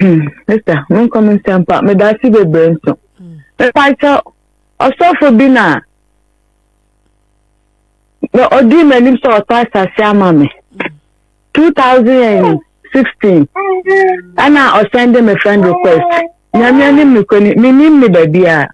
Hmm, sista, menkɔ me nsɛm pa, meda ase bebree nso. Hmm. Mepakyɛ ɔsɔfo bi na na ɔdii m'anim sɛ ɔtɔ asase ama me. 2016 ɛna ɔsɛnde me friend request. Nyame anim ne kɔni, menim ne baabi a.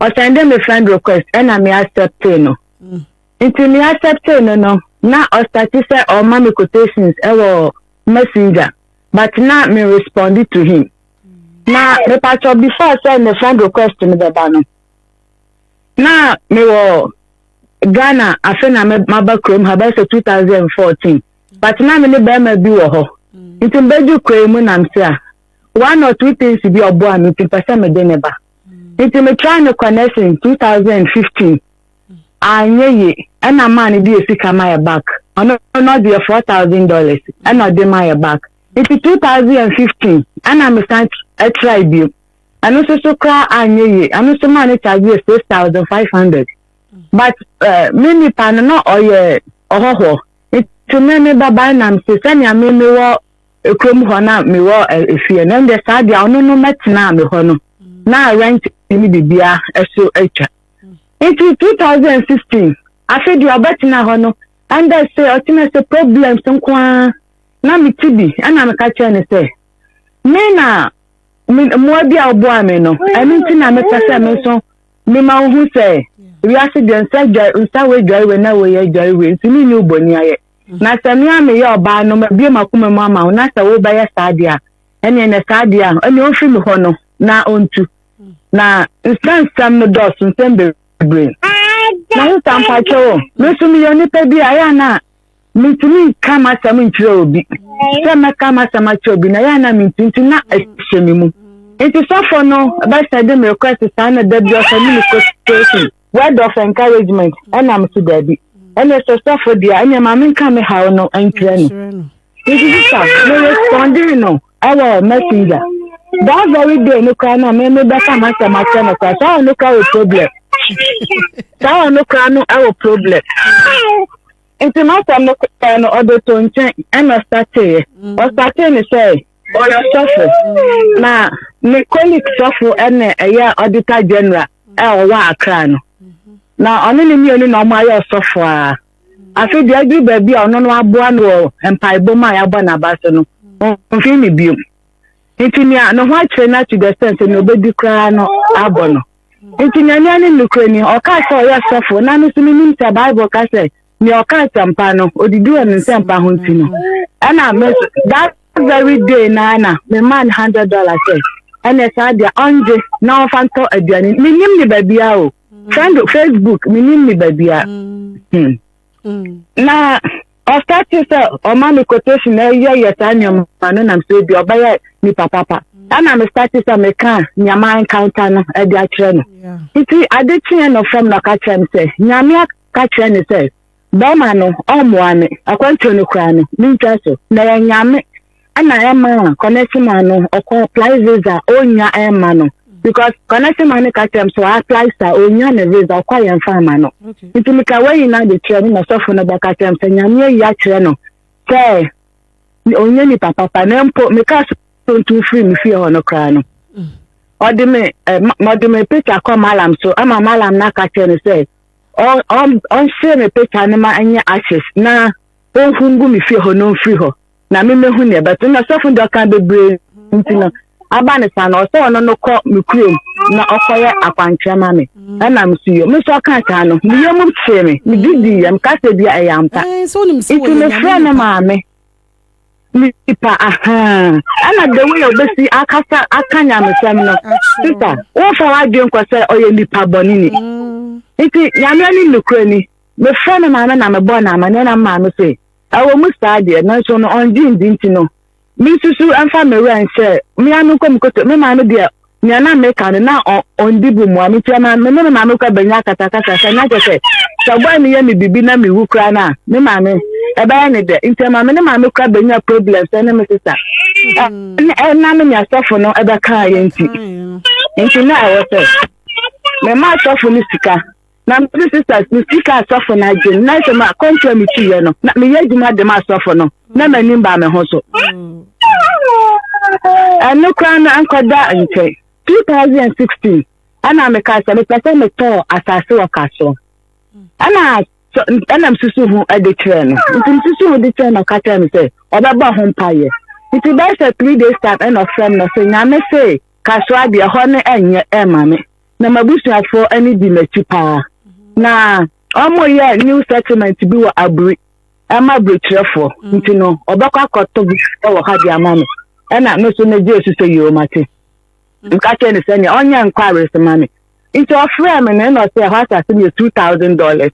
Ɔsɛnde me friend request ɛna me accepte no. Hmm. Nti me acceptee no no na ɔstarte sɛ ɔrema me quotations wɔ messenger but na me responde to him. Na mepakyɛ before sɛ ne friend request no bɛba no na mewɔ Ghana afe na maba kurom ha bɛyɛ sɛ 2014 but na me ne bɛrima bi wɔ hɔ nti mbɛdwo kura yi mu nam se a one or two things bi ɔboa me nti mpɛ sɛ mede ne ba nti me try no kɔ nursing 2015 anyɛ ye ɛna maa no deɛ sika ma yɛ back ɔno no ɔdeɛ four thousand dollars ɛna ɔde ma yɛ back nti two thousand and fifteen ɛna mesan ɛtrae bio ɛno nso so koraa anyɛ ye ɛno nso maa no charge yɛ six thousand five hundred but uh, me nipa no na ɔyɛ ɔhɔhɔ nti me me babae nam se sɛnea me mewɔ kurom hɔ na mewɔ efie no ɛnde saa deɛ ɔno no mɛtena me hɔ no na rent ne biribiara ɛso atwa. Nti 2016 afe deɛ ɔbɛtena hɔ no ɛndɛ se ɔtena se problems nko ara na mete bi ɛna meka kyerɛ no sɛ me na mmoa bi a woboa me no ɛno nti na mepɛ sɛ me nso mema wo ho sɛ wiase deɛ nsa dwa nsa wɔ adware wɔ na wɔyɛ adware wɔ nti me nyi wo bɔni ayɛ na sɛ me a meyɛ ɔbaa no mabue makoma mu ama wo na sɛ wobɛyɛ saa deɛ a ɛneɛ na saa deɛ a ɛneɛ ɔmfiri me hɔ no na ɔntu na nsɛnsɛm no dɔɔso nsɛm bebree na ho sa mpakyɛ o me nso meyɛ nipa bi a ɛyɛ na mentumi nka m'asɛm nkyerɛ obi sɛ mɛka m'asɛm akyerɛ obi na ɛyɛ na mentumi nti na ɛhyɛ me mu nti sɔfo no bɛsɛ de me request saa na da bi ɔsɛ ne me quotation word of encouragement ɛna mo si daabi ɛna sɛ sɔfo deɛ ɛna maame nka me haw no nkyerɛ no nti sisa me responding no ɛwɔ messenger that very day no kora na me mebɛka masɛm akyerɛ no kora saa ɔno kora wɔ problem saa ɔno kora no ɛwɔ problem nti masɛm no kora no ɔde to nkyɛn ɛna ɔsateeɛ ɔsatee ne sɛ Ɔyɛ sɔfo, na ne Kɔlik sɔfo na ɛyɛ Auditor General a ɔwɔ Accra no. Na ɔne ne mmienu na wɔayɛ ɔsɔfo a. Afei deɛ aduru baabi a ɔno no aboa no wɔ mpaebɔ mu a yɛabɔ n'aba so no, ɔmfii ne biom. Nti nea ne ho akyerɛ no to the extent sɛ nea ɔbɛdi koraa no abɔ no. Nti nea nea ne nokorɛ ni, ɔkaa sɛ ɔyɛ sɔfo, na no nso menim sɛ Bible ka sɛ nea ɔka asɛmpa no odidi wɔ ne nsɛmpa ho nti no ɛna me nso that very day na na me maa no hundred dollars sɛ ɛna saa deɛ ɔngye na ɔfa ntɔ aduane menim ne baabia o mm. friend facebook menim ne baabia mm. hmm. mm. na ɔsa te sɛ ɔma me quotation na ɛyɛ yɛ saa nneɛma no nam sɛ bi ɔbɛyɛ nipa papa ɛna me sa te sɛ meka nneɛma nkanka no ɛde akyerɛ no nti ade kyeɛ no fam na ɔka kyerɛ me sɛ nyame ka kyerɛ no sɛ, Bɛɛma no ɔmmoa me, akwantuo no koraa no, mentwa so. Na ɛyɛ Nyame na ɛma a Kɔnɛsema no ɔkɔ apply visa a ɔnnya ɛmma no. Because Kɔnɛsema no ka kyerɛ m sɛ ɔapply sa ɔnnya ne visa, ɔkɔ a yɛmfa mma no. Nti meka wei nyinaa de kyerɛ no na sɔfo no bɛka kyerɛ m sɛ Nyame ayi akyerɛ no sɛ ɔnyɛ nipa papa na mpo meka so ntu firi me fie hɔ no koraa no. Ɔde me, ɔde me picture kɔ malam so ama malam no aka kyerɛ no sɛ ɔn ɔn ɔnsere me peta no ma ɛnyɛ ashes na ɔnhu ngu me fie hɔ na ɔmfiri hɔ na memmɛhu neɛ ɛbɛto na sɔfo deɛ ɔka bebree nti no aba ne saa no ɔsɛ ɔno no kɔ me kurom na ɔkɔyɛ akwankyerɛ ma me mm. ɛna meso yɛ me nso ɔka saa no meyɛ mu kyee me mede dii yɛm ka sɛ bia ɛyɛ ampa nti mefrɛ no maame nipa ahan ɛna the way obesi akasa aka nyamesɛm no sisa wofa wadwe nkɔ sɛ ɔyɛ nipa bɔne ni mm. nti nyame ani nokora ni mefrɛ me maame na mebɔ no amanneɛ na maame sɛ ɛwɔ mu saa deɛ nanso no ɔngye ndi nti no mesusu ɛmfa me werɛ nhyɛ mea no nkɔ me koto me maame deɛ Nea na meka no, na ɔndi bo mmoa me, enti ɛma me ne me maame kɔ abɛnya akasakasa. Sɛ na kyerɛ sɛ, sɛ ɔbaa no yɛ me biribi na mewu koraa no a, me maame, ɛbɛyɛ ne dɛ. Enti ɛma me ne maame kɔ abɛnya problems ne me sesa. Mm. Ɛna me ne asɔfo no ɛbɛkaa yɛ nti. Nti na ɛwɔ sɛ, mema asɔfo no sika. Na me ne sisters no si kaa asɔfo no adwene. Na sɛ ma kɔntu a metuiɛ no, na meyɛ adwuma de ma asɔfo no, na m'anim baa me ho so. Ɛno koraa no ankɔda nkyɛn. 2016 ɛna mekaa sɛ mepɛ sɛ metɔɔ asase wɔ ka so. Ɛna ɛna mesusu ho de kyerɛ no. Nti mesusu ho de kyerɛ no ɔka kyerɛ me sɛ ɔbɛbɔ ho mpaeɛ. Nti bɛyɛ sɛ three days time ɛna ɔfrɛ me na sɛ nyame se kasoa deɛ hɔ ne ɛnyɛ ɛma me. na m'abusuafoɔ ani di m'akyi paa. Na wɔyɛ new settlement bi wɔ Aburi ɛma aburokyerɛfoɔ mm. nti no ɔbɛkɔ akɔto bi wɔ ha de ama me ɛna me so megye esu sɛ yɛɔ mate nka mm. kyerɛ ne sɛ nea ɔnyɛ nkɔ awere ma me nti ɔfrɛ me na ɛna ɔsɛ ɛhɔ asase no yɛ two thousand dollars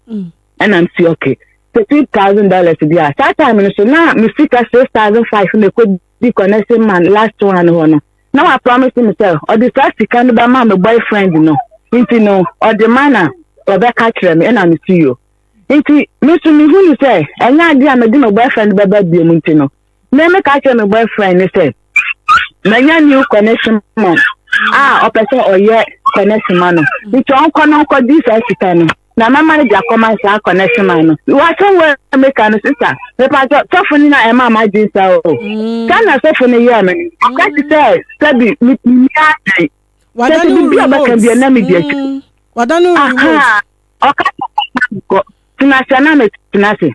mm. ɛna msi ɔke sɛ two thousand dollars bi a saa time no so na me sika six thousand five na ɛkɔ bi kɔ ne se man last one hɔ no na wa promise me sɛ ɔde saa sika no bɛma me boyfriend no nti no ɔde ma na ɔbɛka kyerɛ me ɛna me si yo nti me nso me hunu sɛ ɛnyɛ ade a mede me boyfriend bɛba biom nti no me me ka kyerɛ me boyfriend ne sɛ manya new connection man a ɔpɛ sɛ ɔyɛ connection ma no nti ɔnkɔ no nkɔgye saa sika no Na mɛma no de akɔma saa kɔnɛsoma no. Wɔasɛm wɔ a meka no sisa. Mepatɔ sɔfo no na ɛma ma gye sa o. Mm. Sɛ na sɔfo no yɛ me. Aka ti sɛ sɛ bi mi mi adan. Wada no remote. Sɛ bi ɔbɛka bi na mi di akyi. Mm. Wada no remote. Aha. Ɔka sɛ kɔ. Tena sɛ na me tena se.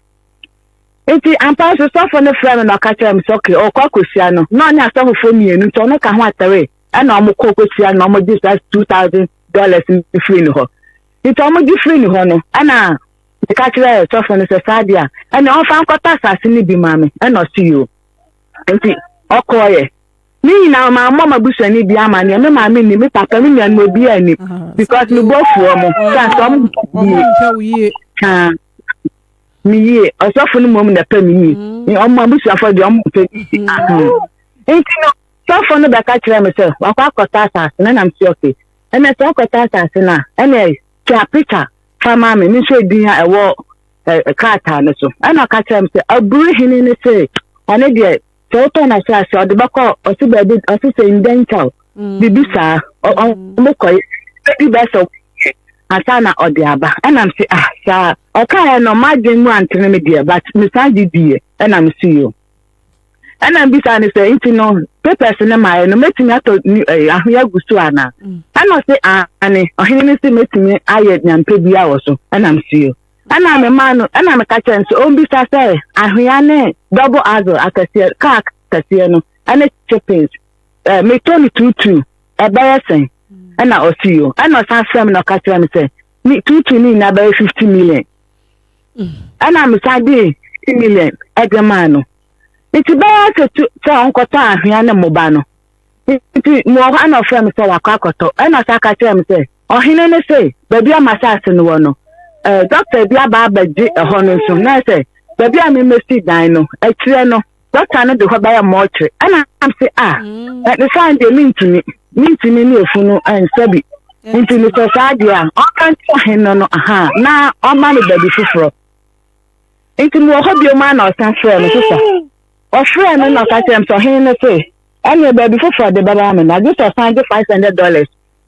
Nti ampa so sɔfo no frɛ me na ɔka kyerɛ me sɛ okay ɔkɔ akɔhyia no. Na ɔne asɔfofoɔ mmienu nti ɔno ka ho atare. Ɛna ɔmo kɔ kɔhyia no ɔmo gye saa two thousand dollars no firi ne hɔ. Enti wɔgye firii ne hɔ no, ɛnna meka kyerɛɛ sɔfo no sɛ, Saa deɛ a, ɛnneɛ ɔmfa nkɔtɔ asase no bi ma me. Ɛnna ɔse, Yoo. Enti ɔkɔeɛ. Ne nyinaa mammɔ m'abusuani bi amanneɛ, me maame nnim, me papa, me nuanom, obiara nnim, because me bo afu wɔn, sɛ anka wɔn me yie ɔsɔfo no mmom na ɛpɛ me yie mm. ɔmo abusuafo deɛ ɔmo mpɛ mm. ah, mm. nti no sɔfo no bɛka kyerɛ me sɛ wakɔ akɔtɔ asase na nam si ɔke Ɛnna sɛ ɔkɔtɔ asase no a, ɛnna twa pikya fa ma me, menhwɛ edin a ɛwɔ krataa no so. Ɛnna ɔka kyerɛɛ me sɛ, Aburu hene no se, ɔno deɛ, sɛ wotɔ n'asase a, ɔde bɛkɔ ɔse baabi, ɔse sɛ Ndɛnkyaw, mm. biribi saa, ɔmokɔe, bɛdi bɛɛ sɛ ansa na ɔde aba ɛnam sɛ ah saa ɔkaeɛ no m'adwen mu antene me deɛ but mesan gye diiɛ ɛnam so yio ɛna mbisa no sɛ nti no papers no maayɛ no mɛtumi atɔ eh, ahoyɛ agu so anaa mm. ɛna ɔse ane ɔhene no se mɛtumi ayɛ nyampɛ bia wɔ so ɛna msuo ɛna mema no ɛna meka kyerɛ no sɛ ɔmbisa sɛ ahoya ne double axle akɛseɛ kaa akɛseɛ no ɛne chippings eh, metɔ no tuutuu ɛbɛyɛ sɛn mm. ɛna ɔse yo ɛna ɔsan frɛ me na ɔka kyerɛ me sɛ tuutuu no nyinaa bɛyɛ fifty million ɛna mesan de ti million ɛde maa no nti bɛyɛ sɛ tu sɛ ɔnkɔtɔ ahwea ne mmoba no nti mu wɔ hɔ ɛna ɔfrɛ me sɛ wakɔ akɔtɔ ɛna ɔsan ka kyerɛ me sɛ ɔhene no sɛ baabi a masaase no wɔ no ɛɛ dɔkta bi aba abɛgye ɛhɔ no nso na sɛ baabi a memesi dan no akyirɛ no dɔkta no de hɔ bɛyɛ mɔɔkyere ɛna nam se a ɛde saa deɛ mentumi mentumi ne efunu ɛnsɛ bi nti ne sɛ saa deɛ a ɔka nti ɔhen no no aha na ɔma no baabi foforɔ nti mewɔ hɔ bio mu a na ɔsan frɛ no sesa ɔfrɛ no na ɔka kyerɛ m sɛ ɔhen no se ɛneɛ baabi foforɔ de bɛba me na gye sɛ ɔsan gye five hundred dollars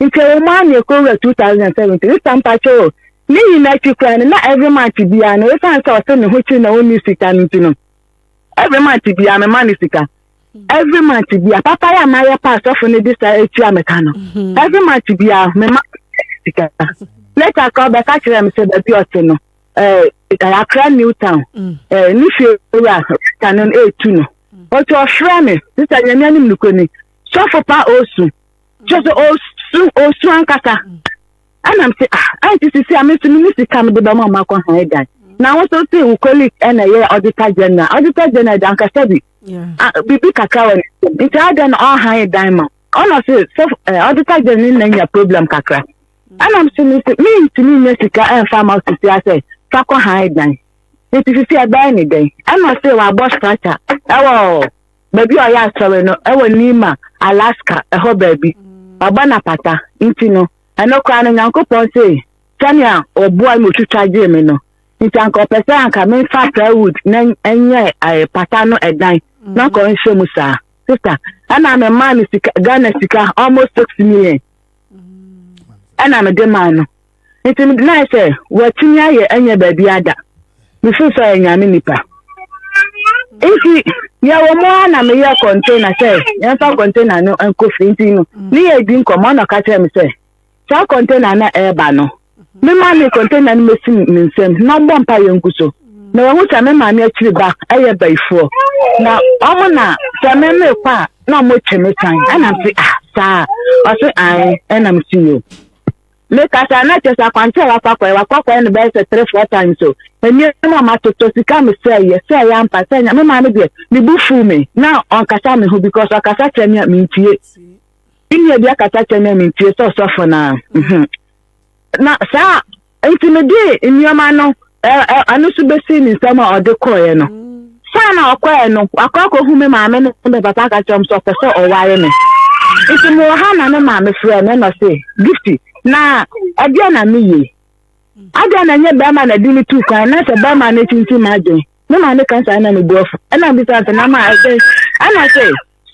nkyɛmu mu a na ɛkɔ wura 2017 ne sɛ mpakyɛ o ne nyina akyi koraa no na every month biara no ɛsiane sɛ ɔsɛ ne ho kyiri na ɔnni sika no nti no every month biara mema ne sika every month bia papa yɛ a mayɛ pa asɔfo no de saa atua meka no mhm. every month bia mema sika later ka ɔbɛka kyerɛ me sɛ baabi ɔte no akra new town mm. ne fie wura rita no ɛtu no ɔti mm. ɔfrɛ me sisa nyame anim nokɔ ni sɔfo pa osu kyerɛ sɛ ɔsu ɔsu ankasa ɛna m sɛ ah ɛnti sisi a mesu no me sika mede bɛma ɔma kɔ ha ɛdan na wo nso se wo colleague ɛna ɛyɛ auditor general auditor general da ankasa bi biribi kakra wɔ ne nsam nti adan na ɔha ɛdan ma ɔna se sɛ auditor general ne na nya problem kakra ɛna m sɛ me sɛ mentumi nya sika ɛmfa ma sisi asɛ fa kɔ ha ɛdan nti sisi ɛbɛyɛ ne dɛn ɛna se wabɔ structure ɛwɔ baabi a ɔyɛ asɔre no wɔ Nima, Alaska, ɛhɔ baabi. Waba no apata. Nti no, ɛno koraa no, Nyankopɔn se, sɛnea ɔboae ma otwitwa gyee me no, nti anka ɔpɛ sɛ anka memfa saa wood na ɛnyɛ eh, pata no ɛdan na anka ɔnhyɛ mu saa. Sista, ɛna memaa no sika, Ghana sika, almost six million. Ɛna mede maa no. Nti na ayɛ sɛ wɔatumi ayɛ ɛnyɛ baabi ada. Mefiri sɛ ɔyɛ nyame nipa. Nti yɛwɔ mu a na meyɛ kɔntena sɛ yɛmfa kɔntena no nkɔ fie nti no ne yɛ di nkɔmmɔ na ɔka kyerɛ me sɛ saa kɔntena na ɛreba no me maame kɔntena no mɛsi ne nsam na ɔmbɔ mpa yɛ ngu so na wɔhu sɛ me maame akyiri ba ɛyɛ bayifoɔ na ɔmo na sɛ me mekɔ a na ɔmo kyɛ me tan ɛnam se ah saa ɔse ae ɛnam se yo Me kasa na kyɛ sɛ akwankyerɛ a wafa kɔɛ wakɔ kɔɛ no bɛyɛ sɛ three four times o nneɛma a matotɔ sika me sɛ yɛ sɛ yɛ ampa sɛ nya me maa me deɛ ne bu fuu me na ɔnkasa me ho because ɔkasa kyerɛ me a mentie me nua bi akasa kyerɛ me a mentie sɛ ɔsɔfo na mhm na saa nti me de nneɛma no ɛno nso bɛsi ne nsɛm a ɔde kɔeɛ no saa na ɔkɔɛ no wakɔ akɔhu me maame ne me papa ka kyerɛ m sɛ ɔpɛ sɛ ɔware me nti mewɔ ha na ne maame frɛ me na ɔse gifti na ɛdeɛ na meye adeɛ na ɛnyɛ bɛrima na de me tu kwan na sɛ bɛrima no tintim m'adwen me maame ka saa na mebu afu ɛna bisa sɛ na ma ɛdɛn ɛna sɛ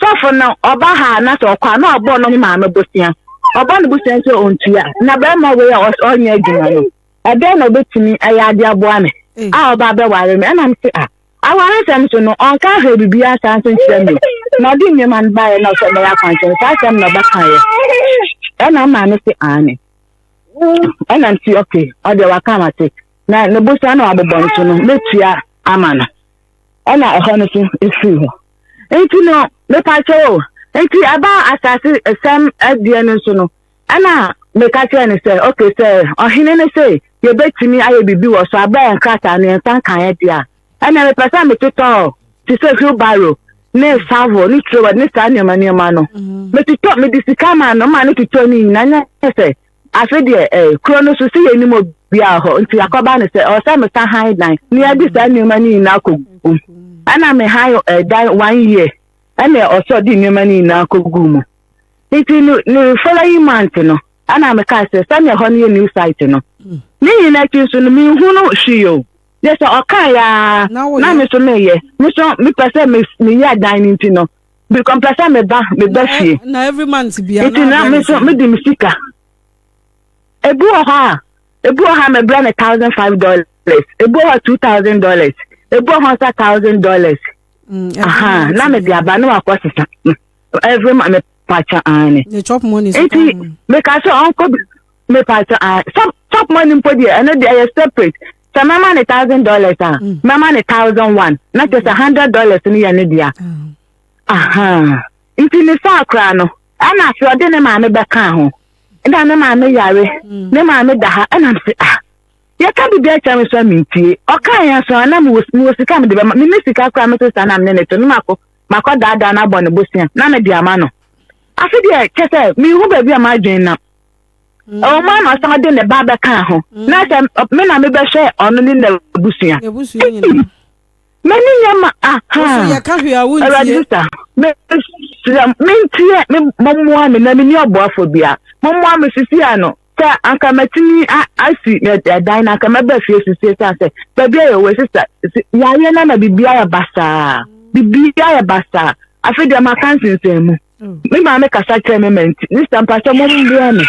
sɔfo no ɔba ha na sɛ ɔkɔ a na ɔbɔ no ne maame bosea ɔbɔ no bosea sɛ ɔntua na bɛrima wei a ɔnyɛ adwuma no ɛdɛn na ɔbɛtumi ayɛ ade aboa me eh. a ɔba abɛware me ɛnam se a aware nsɛm so no ɔnka ahwɛ biribiara saa nso nkyerɛ me na ɔde nneɛma no baeɛ na ɔsɛ mɛyɛ akwankyɛn saa asɛm na ɔbɛkaeɛ ɛna maame se aane ɛnam se ɔke ɔdeɛ waka ma se na ne bosa na wabobɔ no so no mɛtua ama no ɛna ɛhɔ no so ɛfiri hɔ nti no mepakyɛ o nti ɛbaa asase ɛsɛm adeɛ no nso no Ɛna meka kyerɛɛ no sɛ, Ok, sɛ ɔhene no se yɛbɛtumi ayɛ biribi wɔ so a, berɛ a yɛn krataa no yɛnsa nkaeɛ deɛ a, ɛnna mepɛ sɛ metotɔ te sɛ wheelbarrow ne shovel ne trowel ne saa nneɛma nneɛma no. Mm-hmm. Metotɔ, mede sika maa no, maa no totɔ ne nyinaa nyɛ sɛ afe deɛ ɛɛ eh, kuro no so si yɛ anim obiara hɔ nti akɔba no sɛ ɔsɛ mesa han dan na yɛde saa nneɛma no nyinaa kɔgu ɛna me han ɛdan eh, one year ɛna ɔsɔ de nneɛma no nyinaa kɔgu mu nti no ne following month no ɛna meka sɛ sɛnea ɛhɔ no yɛ new site no hmm. ne nyina akyi nso no menhu no hwee o yɛ sɛ ɔka yaa na me so meyɛ me so mepɛ sɛ meyɛ adan no nti no because mpɛ sɛ meba meba fie nti na me so mede me sika ebi wɔ hɔ a ebi wɔ hɔ a mebrɛ no thousand five dollars ebi wɔ hɔ two thousand dollars ebi wɔ hɔ nsa thousand dollars hmm, na mede aba na wakɔ sesa. ɛfiri ma me pakyɛ aane nti meka sɛ ɔnkɔ me pakyɛ aane chop chop money mpo deɛ ɛno deɛ ɛyɛ separate sɛ mɛma ne thousand dollars a mm. mɛma ne thousand one na kyɛ sɛ mm. hundred dollars no yɛ ne dea ah. aha nti ne saa koraa no ɛna afei ɔde ne maame bɛka ho ɛna ne maame yare mm. ne maame da ha ɛna mse ah yɛka biribi akyɛ me so a mentie ɔka yɛ so a na mewɔ sika mede bɛma mene sika koraa me sesa na mene ne to no mako makɔdaadaa no abɔ no bosea na mede ama no. Afe deɛ kyɛ sɛ mehu baabi a m'adwene nam. Mm. Ɛwɔ mu ama san de ne ba bɛka ho mm. na sɛ me na mebɛhwɛ ɔno ne n'abusua. M'ani nyɛ ma aha. Awurade sisa mesrɛ mentie mɔmmoa me na menni ɔboafo bia mɔmmoa me sisi ano sɛ anka matumi asi ɛdan na anka mɛba fie sisi esan sɛ baabi ayɛ wɔ sisa yaayɛ na na biribi ayɛ basaa biribi ayɛ basaa afi deɛ ma ka nsensɛn mu oh. me maame kasa kyerɛ me ma nti ne sɛ mpa sɛ mom mboa me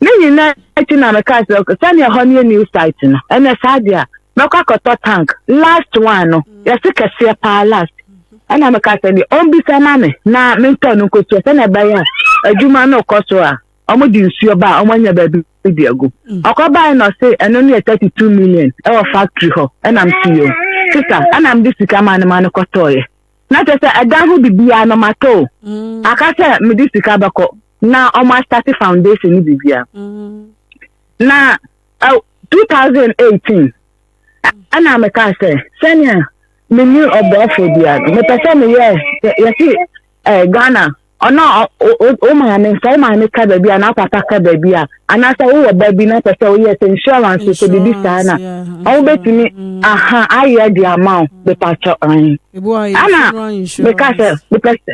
ne nyinaa akyi na meka sɛ sɛnea ɛhɔ no yɛ new site no ɛnɛ saa deɛ a mɛkɔ akɔtɔ tank last one no mm. yɛse kɛseɛ paa last ɛna meka sɛ deɛ ɔmbisa ma me na mentɔ no nkosua sɛnea ɛbɛyɛ a adwuma no kɔ so a wɔde nsuo ba a wɔanya baabi di agu mm. ɔkɔbae na ɔse ɛno no yɛ 32 million ɛwɔ factory hɔ ɛnam siyo sisa ɛnam de sika ma no ma no kɔtɔɔyɛ na kyerɛ sɛ ɛdan ho biribiara no matɔ mm. aka sɛ mede sika bɛkɔ na wɔn astate foundation no biribiara mm. na 2018 ɛna meka sɛ sɛnea menni ɔboafoɔ biara no mepɛ sɛ meyɛ yɛse eh, ghana ɔno a wo maame sɛ wo maame ka baabi a na papa ka baabi a anaasɛ wowɔ ba bi na pɛ sɛ woyɛ sɛ insurance sɛ biribi saa na wobɛtumi aha ayɛ de ama wo mepakyɛ ɛn ɛna meka sɛ mepɛ sɛ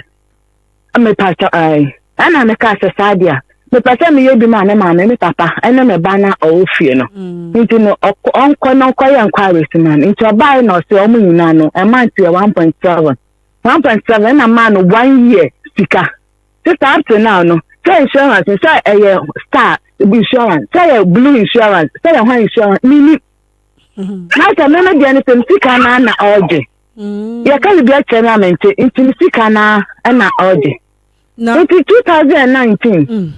Me pastor ae. Ɛna me kaa sɛ saa deɛ me pɛ sɛ meyɛ bi ma me maame me papa ɛne me ba na ɔwɔ fie no mm. nti no ɔnkɔ no nkɔ yɛ nkɔ awɛsi ma no nti ɔbaae na ɔsɛ ɔmo nyinaa no ɛma nti yɛ one point seven one point seven ɛna maa no one year sika sista up to now no sɛ insurance sɛ ɛyɛ star insurance sɛ yɛ blue insurance sɛ yɛ hɔ insurance mini mm-hmm. na sɛ mɛmɛ deɛ no sɛ sika naa na ɔregye. yɛka biribi akyerɛ no a mente nti ne sika no na ɔgye nti 2019 mm.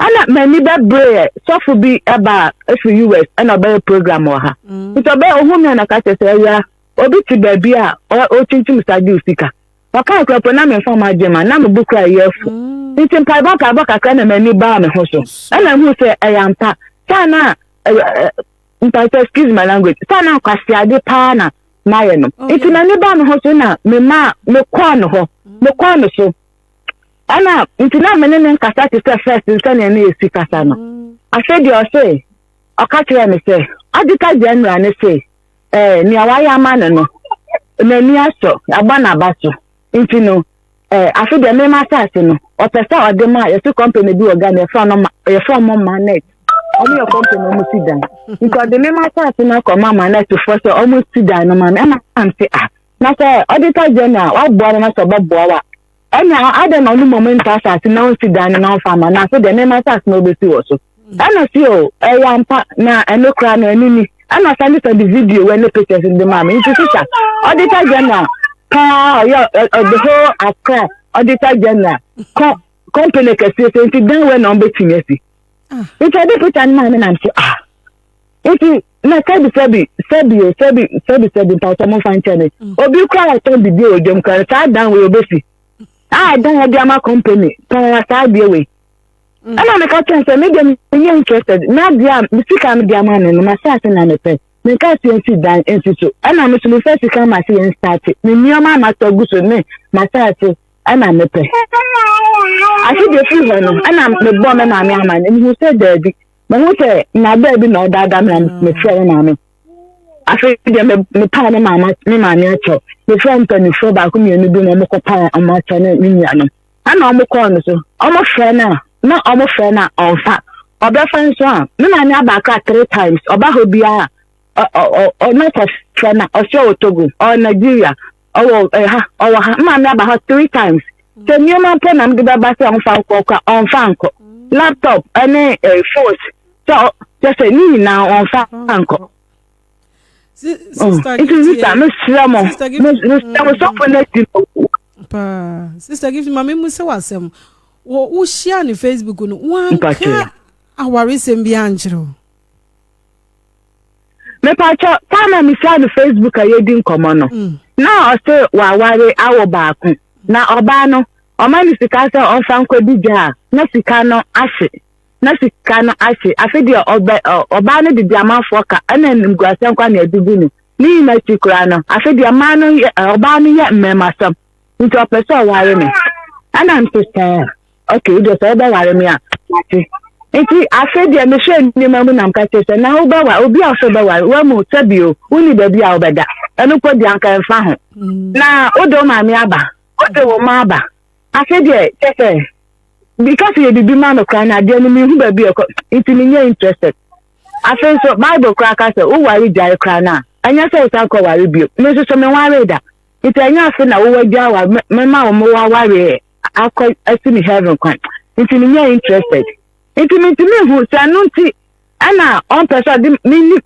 ɛna m'ani bɛbereɛ sɔfo bi ɛba ɛfiri us ɛna ɔbɛyɛ program wɔ ha mm. nti ɔbɛyɛ ɔhu mi na ka kyerɛ sɛ ɛwia obi te baabi a ɔkyinkyim sa gye sika ɔka nkurɔfoɔ na memfa ma agye ma na mebo kora ɛyɛ afo mm. nti mpaebɔ mpaebɔ kakra na m'ani baa me ho so ɛna hu sɛ ɛyɛ ampa saa na mpakyɛ excuse my language saa na akwaseade paa na mayɛ no oh, nti na ne ba no ho so na me maa me kɔɔ no hɔ mm. me kɔɔ no so ɛna nti na me ne ne nkasa te sɛ first nsɛnea ne yɛsi kasa no mm. afei deɛ ɔse ɔka kyerɛ me sɛ adika general ne se ɛɛ eh, nea wayɛ ama no no n'ani asɔ abɔ n'aba so nti no Eh, afe deɛ mema asase no ɔpɛ sɛ ɔde ma yɛsi kɔmpani bi wɔ ghana yɛfrɛ no yɛfrɛ mo manet ɔmo yɛ kɔmpani ɔmo si dan nti ɔde mema asase no akɔ ma manet foɔ sɛ ɔmo si dan no ma me ɛna am se ah na sɛ ɔde ta gyɛn a waboa no na sɛ ɔbɛboa wa ɛna adɛn na ɔno mmom nta asase na ɔnsi dan no na ɔmfa ma no afe deɛ mema asase no ɔbɛsi wɔ so Ɛna si o, ɛyɛ ampa na ɛno koraa no ɛno ni. Ɛna sɛ ne sɛ de video wɛ ne pictures de maa me. Nti sisa, auditor general paa ɔyɛ the whole Accra auditor general kɔ company kɛseɛ sɛ nti dan wɛ na ɔbɛtumi asi. Ah. Nti ɛde picture no maa me nam so ah. Nti na sɛbi sɛbi sɛbi o sɛbi sɛbi sɛbi mpatsɔ mo nfa nkyɛn mi mm. obi kura ɔtɔn bibi o dwom kura saa dan wei obesi a dan yɛ de ama company paa saa adeɛ wei Mm. ɛna meka kyɛn sɛ me deɛ meyɛ interested na deɛ a sika a mede ama no no masaase na mepɛ meka sɛ nsi dan nsi so ɛna me so mefa sika ma sɛ yɛnstate me nneɛma a masa gu so ne masaase ɛna mepɛ ase deɛ firi hɔ no ɛna mebɔ me maame ama no mehu sɛ daabi mehu sɛ nabaa bi na ɔdaadaa me na mefrɛ me maame afei deɛ mepaa ne maame akyɛw mefrɛ mpanimfoɔ baako mmienu bi na ɔmokɔpaa ɔmo akyɛw ne me nuanom ɛna ɔmo kɔɔ no so ɔmo frɛ no a na ɔmo frɛ no a ɔmfa ɔbɛfa nso a me maame aba akra three times ɔba hɔ biara ɔno kɔ frɛ no ɔsɛ ɔwɔ togo ɔwɔ nigeria ɔwɔ ɛha ɔwɔ ha me maame aba hɔ three times sɛ nneɛma mpo na mede bɛba sɛ ɔmfa nkɔ kora ɔmfa nkɔ laptop ɛne eh, phones sɛ ɔ- kyɛ sɛ ne nyinaa ɔmfa nkɔ sista gifti yɛ sista no sira mo sista gifti no sira mo sɔfo na ti no. paa sista gifti ma mi mu sɛ wasɛm wɔ wohyia ne facebook no wanka awaresɛm bi ankyerɛ o. mepakyɛ paa na mehyia no facebook a yɛdi nkɔmmɔ no mm. na ɔse waware awo baako na ɔbaa no ɔma no sika sɛ ɔmfa nkɔdi gya a na sika no ahye na sika no ahye. Afe deɛ ɔbɛ ɔ ɔbaa no de di amanfoɔ ka ɛna animguaseɛ nkwa na ɛde bu no. Ne nyinaa akyi koraa no, afe deɛ mmaa no yɛ ɛ ɔbaa no yɛ mmarimasɛm nti ɔpɛ sɛ ɔware me. Ɛna nso sɛ okay deɛ sɛ wobɛware me a mate. Nti afe deɛ mehwɛ nneɛma mu na meka kyerɛ sɛ na wobɛware obi a wofɛ bɛware wamu sɛ bio wonni baabi a wobɛda ɛno mpo deɛ anka ɛmfa ho. Mm. Na wode wo maame aba wode wo ma aba afe deɛ kyɛ sɛ because yɛ biribi ma no koraa na adeɛ no mehu baabi ɛkɔ nti menyɛ interested afei nso bible koraa ka sɛ woware gyae koraa no a ɛnyɛ sɛ wosan kɔ ware bio me nso so menwaree da nti ɛnyɛ afe na wowɔ gya wa mema wo mowɔ awareɛ akɔ asi me heaven kwan nti menyɛ interested nti mentumi nhu sɛ ɛno nti ɛna ɔmpɛ sɛ ɔde menni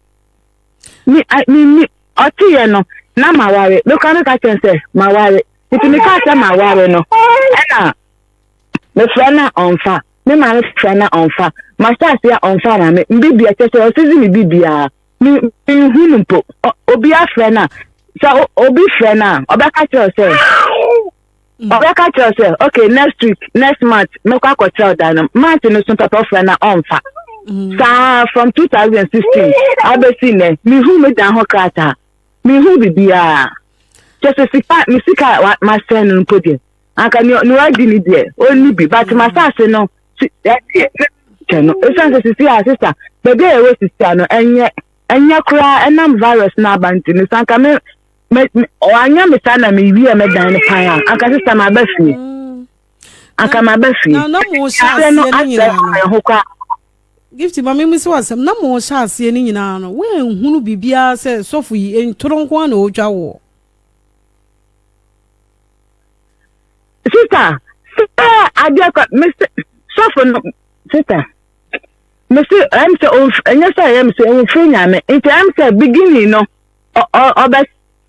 menni ɔteyɛ no na maware mekora meka kyɛn sɛ maware nti meka sɛ maware no ɛna Mefrɛ no a ɔmmfa, me maame frɛ no a ɔmmfa, mahyɛ ase a ɔmmfa ama me, mbibia kyɛ sɛ ɔsɛ dze me bibiara. Me nnhu no mpo. Obi afrɛ no a, sɛ obi frɛ no a, ɔbɛka kyerɛ sɛ, mm. ɔbɛka kyerɛ sɛ, okay, next week, next month, mɛkɔ akɔkyerɛ ɔdan no. Month no so papa ɔfrɛ no a ɔmmfa. Mm. saa from 2016 abɛsi nnɛ mehu me dan ho krataa mehu biribiaa kyɛ sɛ sika me sika a masɛn no mpo deɛ anka nea nea wadi ni deɛ ɔnni bi but mm. masaase no si ɛdeɛ kyɛ no ɛsiane sɛ sisi a sisa baabi a yɛwɔ sisi a no ɛnyɛ ɛnyɛ koraa ɛnam virus no aba nti no sɛ anka me me ɔanyɛ me saa na mewie mɛdan no pan a anka sisa maba fie mm. anka maba fie na na mo hyɛ aseɛ no nyinaa no ɛho koraa gift ma mimi sɛ wasɛm na mo hyɛ aseɛ no nyinaa no woanhunu biribiara sɛ sɔfo yi ntoro nko a na ɔtwa woɔ sista sɛ adeɛ kɔ mese sɔfo no sista mese ɛm sɛ ɛnyɛ sɛ ɛyɛ mese ɔmfiri nyame nti ɛm sɛ beginning no ɔbɛ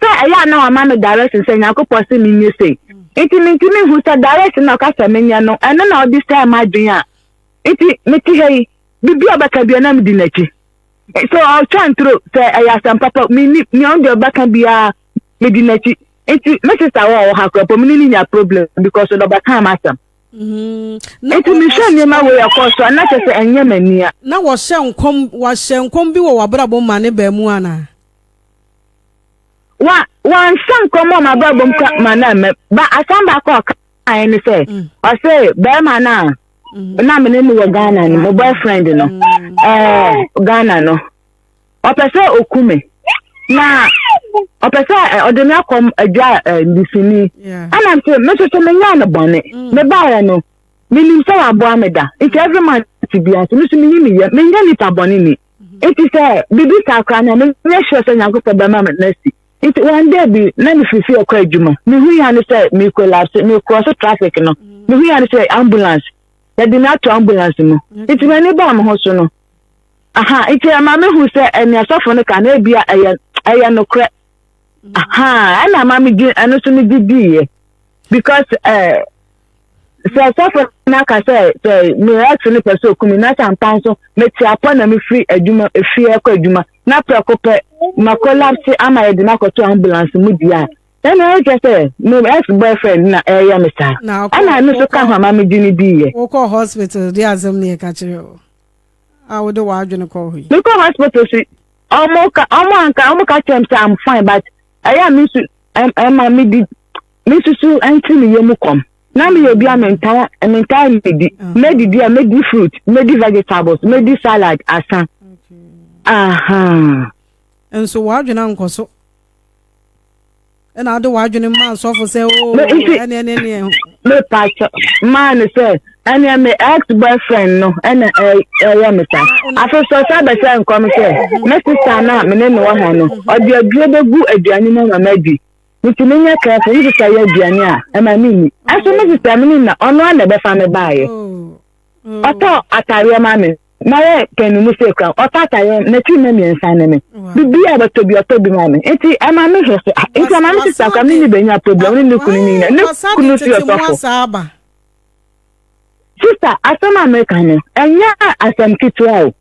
sɛ ɛyɛ a na wama me direction sɛ nyankopɔn se menyɛ sei nti mentumi hu sɛ direction na ɔka sɛ menyɛ no ɛno na ɔde sɛ ma adwen a nti mete ha yi biribi a ɔbɛka bia na medi n'akyi so ɔtwa ntoro sɛ ɛyɛ asɛm papa menni nea ɔde ɔbɛka biara medi n'akyi nti me sista wɔ ɔwɔ ha kura pɔ me ne ne nya problem because ɔdɔ ba kaa m'asɛm mm-hmm. nti mehwɛ nneɛma wei ɛkɔ so a na kyɛ sɛ ɛnyɛ m'ania na wɔhyɛ nkɔm wɔahyɛ nkɔm bi wɔ w'abrabɔ ma ne baa mu anaa wa wanhyɛ nkɔm wɔ m'abrabɔ mu ka ma na mmɛ ba asɛm baako a ɔkaeɛ ne sɛ mm. ɔse bɛrima no a mm-hmm. na me ne no wɔ ghana no mo boyfriend no mm. ɛɛ ghana no ɔpɛ sɛ ɔku me na ɔpɛ sɛ ɔde me akɔm adwa ndisini ɛna nti me nso so menyɛɛ no bɔne mm. mebaeɛ no menim sɛ waboa me da nti mm. every month bia nso meso meyi meyɛ menyɛ nipa bɔne ni mm-hmm. nti sɛ biribi saa koraa na menyɛ hyerɛ sɛ nyankopɔn bɛma me nasi nti one day bi na mefirifiri ɛkɔ adwuma mehu ya no sɛ mekolapse mekorɔ so traffic no mm. mehu ya no sɛ ambulance yɛde me ato ambulance mu nti m'ani baa me ho so no Aha, nti ɛma mehu sɛ ɛne asɔfo no ka no ebia ɛyɛ ɛyɛ nokorɛ. Aha, ɛna ama megye ɛno so megye diiɛ because ɛɛ eh, sɛ asɔfo no aka sɛ sɛ me ex no pɛ sɛ oku me na sampa nso mete apɔ na mefiri adwuma efie ɛkɔ adwuma na prɛko pɛ ma collapse ama yɛde no akɔto ambulance mu di a ɛna ɛkyɛ sɛ me ex boyfriend na ɛyɛ me saa ɛna ɛno so ka ho ama megye no diiɛ. wokɔ hospital de asɛm ne ɛka kyerɛ o. a wode w'adwene kɔ hɔ yi. mekɔ hospital si ɔmo ka ɔmo anka ɔmo ka kyerɛ m sɛ i'm fine but ɛyɛ a me nsu ɛma me di me nsusu ɛnti me yɛ mu kɔm na me yɛ bi a mentaa mentaa medi medidi a medi fruit medi vegetables medi salad asa aha nso w'adwene ankɔ so ɛna wode w'adwene maa sɔfo sɛ o ɛneɛ ne neɛ mepakyɛ maa no sɛ ɛneɛ me ex boyfriend no ɛna ɛyɛ me sa afe sɔ sɛ bɛsɛ nkɔm sɛ me sista no a mene ne wɔ ha no ɔde aduro bɛgu aduane mu ama madi nti menyɛ kɛfo me sista yɛ aduane a ɛma menni ɛso me sista mene na ɔno a na ɛbɛfa me baeɛ ɔtɔ atareɛ ma me na yɛ pɛn me mu sɛ kura ɔtɔ atayɛ n'akyi mɛ mmiɛnsa ne me bibi a ɔbɛtɔ bi ɔtɔ bi ma me nti ɛma me hwɛ so nti ɛma me sisa kura me ne bɛnya problem ne ne kunu ne nyina ne kunu si ɔtɔfo sista asɛm a meka no ɛnyɛ asɛm ketewa o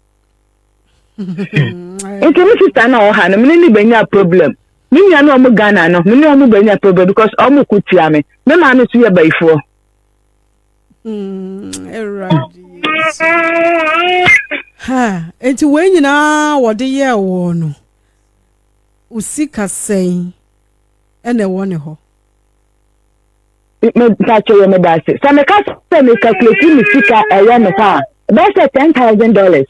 nti me sista na ɔha no me ne ne bɛnya problem me nua ne ɔmo ghana no me ne ɔmo bɛnya problem because ɔmo ko tia me me maame so yɛ bayifoɔ Hmm, nti wei nyinaa wɔde yɛɛ wɔ no wo sika sɛn ɛna ɛwɔ ne hɔ mpakyɛ yɛ meda ase sɛ meka sɛ mekakulati me sika ɛwɔ ne hɔ a bɛyɛ sɛ ten thousand dollars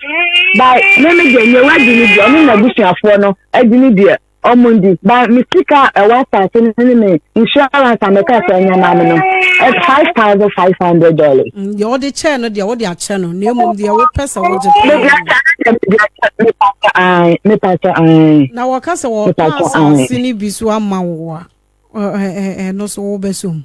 ba me me deɛ nyɛ wadi ne deɛ ɔne n'abusuafoɔ no adi ne deɛ Ɔmo ndi. Ba me sika a ɛwɔ asase no ne me insurance a meka sɛ ɛnyɛ maa me no ɛyɛ five thousand five hundred dollars. Mm, deɛ wɔde kyɛɛ no deɛ wɔde akyɛ no na mmom deɛ wɔpɛ sɛ wɔgye paa. Mede akyɛ no deɛ mede akyɛ no mepa kyɛ ae mepa kyɛ ae. Na wɔka sɛ wɔpa asase no bi so ama wo a ɛno so wobɛsom.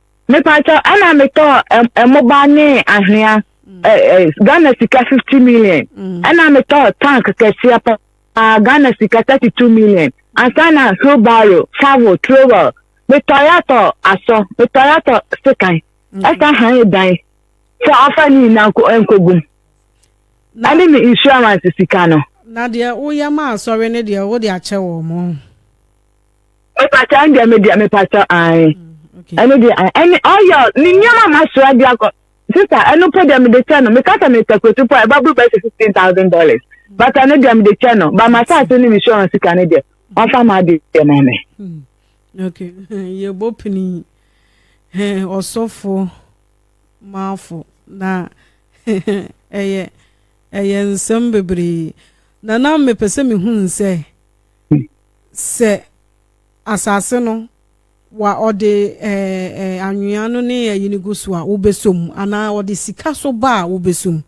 Mepatwɔ ɛna metɔɔ ɛmoba ne ahwea Ghana sika 50 million ɛna mm. metɔɔ tank kɛseɛ pa Ghana sika 32 million ansa na hubaro favo trowel metɔe atɔ asɔ metɔe atɔ sekan mm. ɛsa han dan sɛ afa ne nyinaa nkogum ɛne me insurance sika no na deɛ woyɛ ma asɔre no deɛ wode akyɛ wɔ mo mepata ɛn deɛ me deɛ mepata ae ɛno deɛ ɛne ɔyɛ ne nneɛma ma soa de akɔ sista ɛno po deɛ mede kyɛ no meka sɛ mepɛ kotu po a ɛba buru bɛsɛ fifteen thousand dollars bata no deɛ mede kyɛ no ba masaase ne me sɔrɔ sika no deɛ wafa ma ade deɛ ma me. okay yɛbɔ pini ɔsɔfo maafo na ɛyɛ ɛyɛ nsɛm bebree na na mepɛ sɛ mehu nsɛ. Sɛ asase no wa ɔde ɛɛ anwea no ne ɛyi no gu so a, wobɛsɔ mu anaa ɔde sika so ba a, wobɛsɔ mu.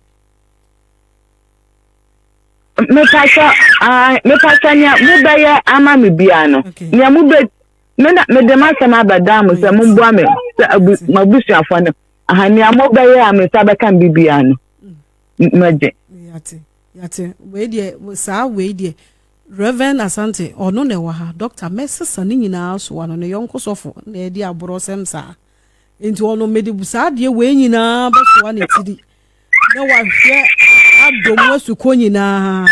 mepatwa ah mepatwa nea mobɛyɛ ama me biara no okay. nea mobɛ me na mede m'asɛm abɛdan mo sɛ momboa me sɛ abu m'abusuafo no aha nea mobɛyɛ a me nsa bɛka me biara no mm. magye. yate yate wei deɛ saa wei deɛ Rev. Asante, ɔno na ɛwɔ ha, Dɔkta mɛsesa ne nyinaa so ano, ne yɔnko sɔfo na ɛredi aborɔsɛm saa. Enti ɔno mede saa adeɛ wei nyinaa bɛsoa ne tiri na wahwɛ adɔ mu asukɔ nyinaa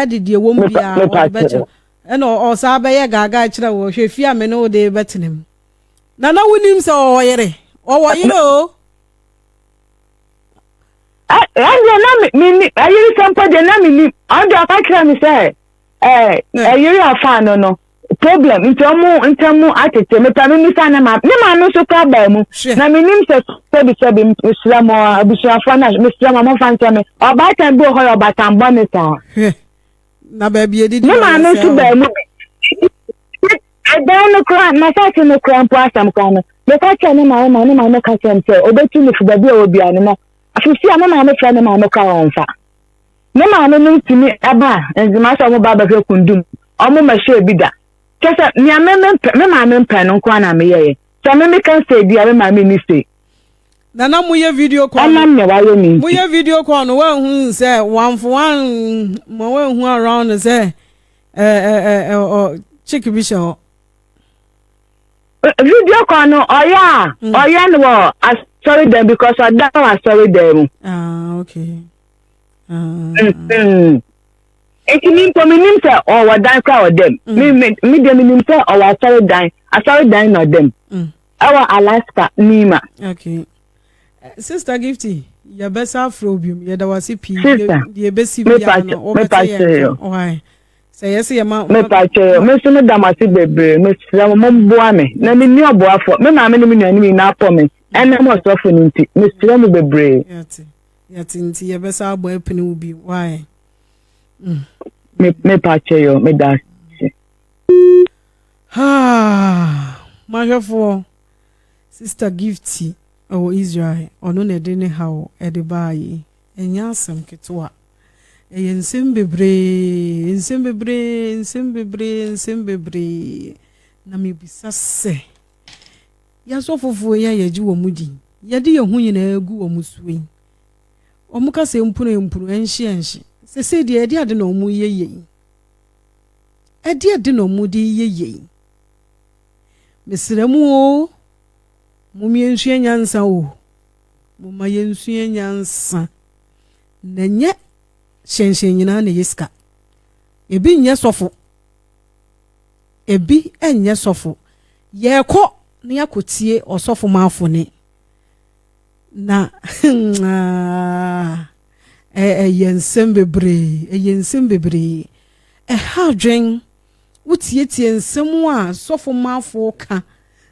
ɛde deɛ wɔm biara wɔde bɛkyerɛ ɛna ɔsaa bɛyɛ gaagaa kyerɛ wɔ hwɛ fie a me ne wo de bɛtena mu na na wonim sɛ ɔwɔ yere ɔwɔ yere o ɛndeɛ na menni ayere sɛ mpo deɛ na mennim ɔno deɛ ɔka kyerɛ me sɛ ɛyere hmm. afa no no problem nti ɔmo ntɛm mu atete mepɛ me misa ne ma ne maame nso kora baa mu na menim sɛ sɛbi sɛbi mesrɛ mo abusuafoɔ no mesrɛ mo ɔmomfa nkyɛ me ɔbaatan bi wɔ hɔ yɛ ɔbaatan bɔne saa na baabi ɛdidi ne maame nso baa mu bi ɛdan no kora n'asase no kora mpo asɛm kora no meka kyerɛ ne maame ma ne maame ka kyerɛ m sɛ ɔbɛtu no fi baabi a ɔwɔ bia no na afisi a me maame frɛ ne maame kora wɔn fa ne maame no ntumi ɛba nzema sɛ ɔmo ba abɛhwɛ kundum ɔmo ma hyɛ bi da kyɛ sɛ nea me me mpɛ me maame mpɛ no nko na meyɛ yɛ sɛ me me kan sɛ bi a me maame ni sɛ. nana mo yɛ video call ɛnam na wayɛ mi nti mo yɛ video call no wɔn ho sɛ wɔn afɔ wɔn mo wɔn ho around sɛ. chick bi hyɛ hɔ. video call no ɔyɛ a ɔyɛ no wɔ asɔre dan because ɔda wɔ asɔre dan mu. ah okay. nti mi mpo mi nim sɛ ɔwɔ dan kora ɔdɛm mi mi mi deɛ mi nim sɛ ɔwɔ asɔre dan asɔre dan na ɔdɛm. Ɛwɔ Alaska, Mima. Okay. Eh, Sister Gifty, yɛbɛsa afrɛ wo biom. Yɛda wo ase pii. Sister, deɛ ɛbɛsi biara no, wobɛte yɛn nka. Why? sɛ yɛsɛ yɛ ma. mepa kyerɛ me nso meda mo ase bebree mesrɛ mo momboa me na menni ɔboafoɔ me maame ne me nuanom nyinaa pɔ me ɛnam ɔsɔfo no nti mesrɛ mo bebree. yɛte nti yɛbɛsa abɔ apene wo bi wae. mepa kyerɛ yɛ meda ase. Haa! M'ahwɛfoɔ, Sista Gifty wɔ Israel, ɔno na ɛde ne haw de baa yi. Ɛnyɛ asɛm ketewa. Ɛyɛ nsɛm bebree, nsɛm bebree, nsɛm bebree, nsɛm bebree. Na mebisa sɛ, yɛasɔfofoɔ yi a yɛgye wɔn di, yɛde yɛn ho nyinaa gu wɔn so yi, wɔka sɛ mpunuampunu, ɛnhye ɛnhye, sɛsei deɛ ɛde ade na wɔyɛ yei? Ɛdeɛn na ɔmo de yɛ yei? Mesrɛ mo oo, mom yɛnsua nyansa oo, momma yɛnsua nyansa. Na nyɛ hyɛnhyɛn nyinaa na ɛyɛ sika. Ebi nyɛ sɔfo, ebi nyɛ sɔfo. Yɛrekɔ na yɛakɔtie ɔsɔfo Maafo ne Na ah, ɛyɛ nsɛm bebree, ɛyɛ nsɛm bebree. Ɛha adwen, wotietie nsɛm a sɔfo mafo ka,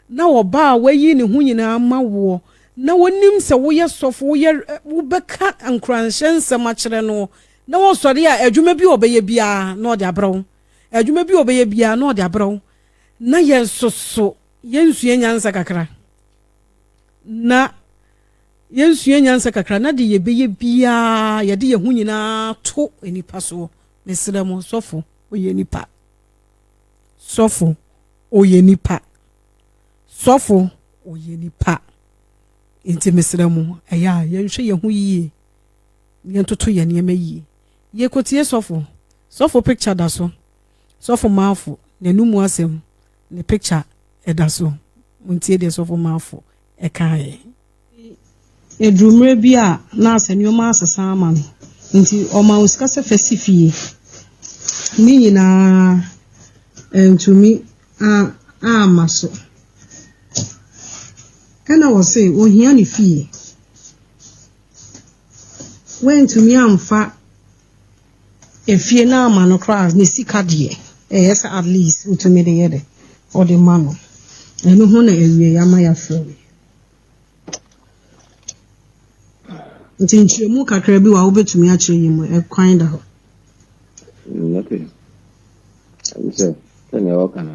na ɔba a wayi ne ho nyinaa ma woɔ, na wonim sɛ woyɛ sɔfo, woyɛ wobɛka nkuranhyɛ nsɛm akyerɛ no, na wɔsɔre a adwuma bi a ɔbɛyɛ biara na ɔde abrɛ wo, adwuma bi a ɔbɛyɛ biara na ɔde abrɛ wo, na yɛn soso yɛnsua nyansa kakra. na yɛnsua nyansa kakra na deɛ yɛbɛyɛ biara yɛde yɛn ho nyinaa to nnipa soɔ mesrɛ mo sɔfo ɔyɛ nipa sɔfo ɔyɛ nipa sɔfo ɔyɛ nipa nti mesrɛ mo ɛyɛ a yɛnhwɛ yɛn ho yie yɛntoto yɛn nneɛma yie yɛkɔtie sɔfo sɔfo picture da so sɔfo maafo n'anum asɛm Ne picture ɛda so. Montie deɛ Sɔfo Marfo kaeɛ. Ɛduruu mmerɛ bi a na Asa nneɛma asesa ama no nti, ɔmaa wɔn sika sɛ fa si fie. Ne nyina ara antumi amma so. Ɛnna wɔse, Ɔhia ne fie. Woantumi amfa. Efie no ama no koraa a, ne sika deɛ, ɛyɛ sɛ at least wotumi de yɛ dɛ, wode ma no. Ɛno ho na awieeɛ ama yɛafrɛ me. Nti nkyerɛmu kakra bi wɔ a wobɛtumi akyerɛ yi mu, ɛkwan da hɔ. Mm, okay. Ɛne sɛ, sɛnea wɔka no,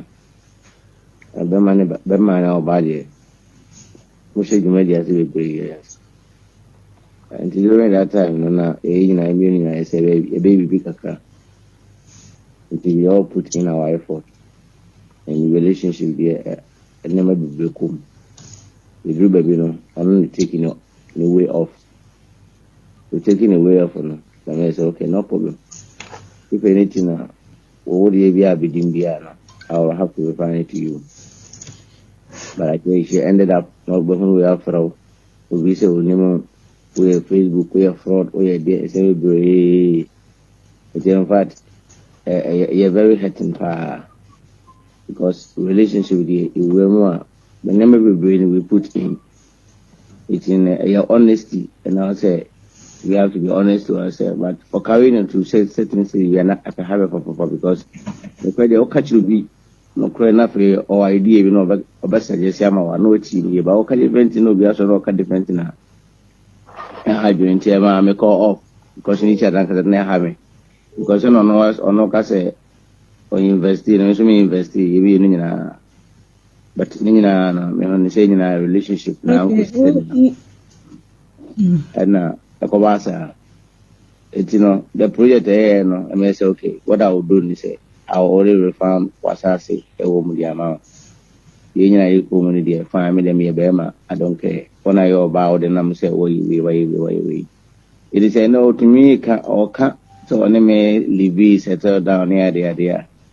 bɛma ne bɛma na ɔbaa deɛ, Mohyɛ dwumadi ase bebree yɛ yɛn nsa. Nti during that time no na yɛn nyinaa yɛn mmienu nyinaa yɛsɛ yɛbɛyɛ biribi kakra. Nti we all put in our effort. And relationship deɛ nneɛma bebree kɔ mu. Yɛduru baabi no ɔno ne taking no ne way off. We taking the way off no na meyɛ sɛ okay no problem. If anything a Wɔ wo deɛ biaa bɛdim biaa no, I will have to return it to you. But I think she ended up na ɔbɛhunu wei afrɛ wo. Obi sɛ onim wo, woyɛ Facebook, woyɛ fraud, woyɛ deɛ, ɛsɛ bebree. Nti in fact, ɛyɛ very hurting paa. Because relationship deɛ, ɛwura mu a, nneɛma bebree na we put in. Nti no ɛyɛ honesty and I say we have to be honest to ourselves but for carrying it to say certain say we are not at a hurry for papa because the credit or catch will be no credit na free or idea bi na ɔbɛ suggest ama wa na ɔti ni ba ɔka different na obi asɔ na ɔka different na ɛha adwene nti ɛma me call off because ne kyɛ dankasa na ɛha me because ɔno ɔno ka sɛ ɔyɛ investi na nso me investi yɛ bi yɛ no nyinaa but ne nyinaa no mehu no sɛ nyinaa relationship na nkɔ sisɛm no ɛna ɛkɔba asa eti no the project ɛyɛ no ɛmɛ sɛ okay what I will do ni sɛ I will only refund wasaase ɛwɔ mu di ama wɔn yɛn nyinaa yɛ kɔn mu no deɛ fine mi deɛ mi yɛ bɛrima I don't care wɔn a yɛ ɔbaa wɔde nam sɛ wɔyɛ wei wɔyɛ wei wɔyɛ wei eti sɛ ɛna otumi ka ɔka sɛ ɔne mi libi settle down ne adeadeɛ a.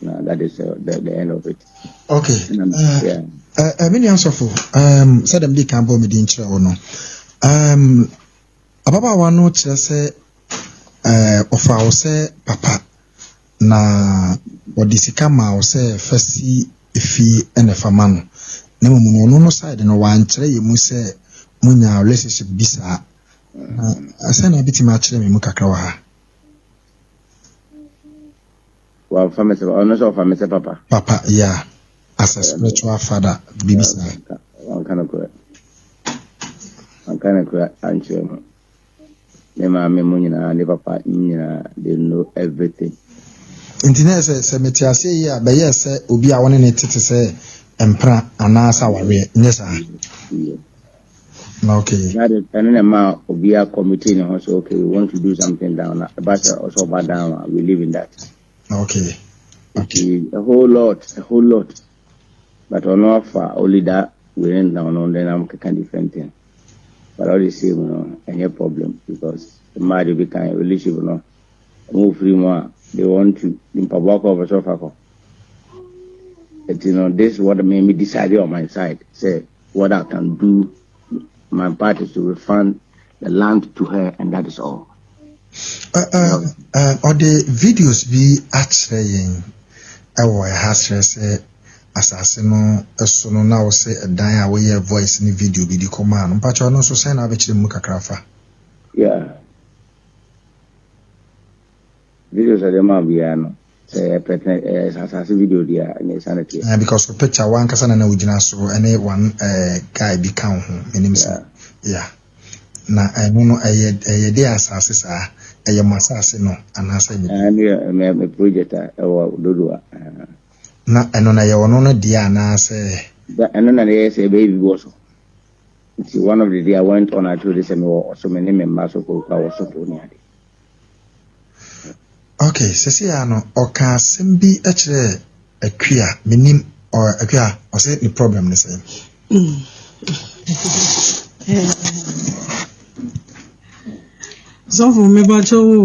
na that is uh, the, the end of it okay uh, yeah. uh, uh, mene asɔfo um, sɛ dɛm de kan bɔ mede nkyerɛ wo no um, ababaawa no kyerɛ sɛ uh, ɔfa wo sɛ papa na wɔde sika ma wo sɛ fa si efie ɛna fa ma no na mmom no ɔno no side no wankyerɛ yɛ mu sɛ monya relationship bi saa na sɛ na bɛtumi akyerɛ me mu kakra wɔ ha Wamfa me sɛ papa. Ɔno sɛ ɔfa me sɛ papa. Papa, yeah. As a spiritual father, biribi saa. Wanka no korɛ. Wanka no korɛ ankyerɛ mu. Me maame mu nyinaa, ne papa nyinaa, they know everything. Nti na sɛ sɛ mete aseɛ yi a bɛyɛ sɛ obi a wɔne ne tete sɛ mpena anaasɛ awareɛ, nyɛ saa? na okay na de ɛne na ma obi a committee ne ho so okay we want to do something down na ɛba sɛ ɔsɛ ɔba down a we live in that okay okay a whole lot a whole lot but ɔno afa only that we rent down no then I'm keka different thing but all the same no ɛnyɛ problem because mmaa de bi kan relationship no wɔn ofiri mu a they want to mpaboa kɔ ɔbɛsɛ ɔfa kɔ. But you know, this is what made me decide on my side. Say, What I can do my part is to refund the land to her and that is all. Ɔde videos bi akyerɛ yɛn ɛwɔ ɛha kyerɛ sɛ asase no ɛso no na ɔsɛ ɛdan a wɔyɛ voice ne video bi de kɔmaa no mpakyɛ ɔno nso sɛn na abɛkyerɛ mu kakra fa. Yeah. Videos a ɔde maa biara no, sɛ ɛyɛ pɛtɛn, ɛyɛ asase video deɛ a, ɛnna ɛsiane teɛ. Eh, because wo picture w'ankasa na na ogyina so ɛne one eh, guy bi ka wo ho, menim sɛ, yeah. Na ɛno no ɛyɛ ɛyɛ de asase saa, ɛyɛ mo asase no anaasɛ ɛnyɛ? Ah, ɛno yɛ me me project a ɛwɔ dodo a. Ah. Na ɛno na ɛyɛ ɔno no deɛ anaasɛ? Da ɛno na ɛyɛ sɛ ɛbɛyɛ bi wɔ so. Nti one of the day I went on I told sɛ mewɔ ɔso me ne me mma so kɔ kura wɔ so po ne ade. Okay, sɛsɛ ya no, ɔka asɛm bi kyerɛ Akua, menim Akua, ɔsɛ ne problem ne sɛ. Sɔfo mebakyɛ wo,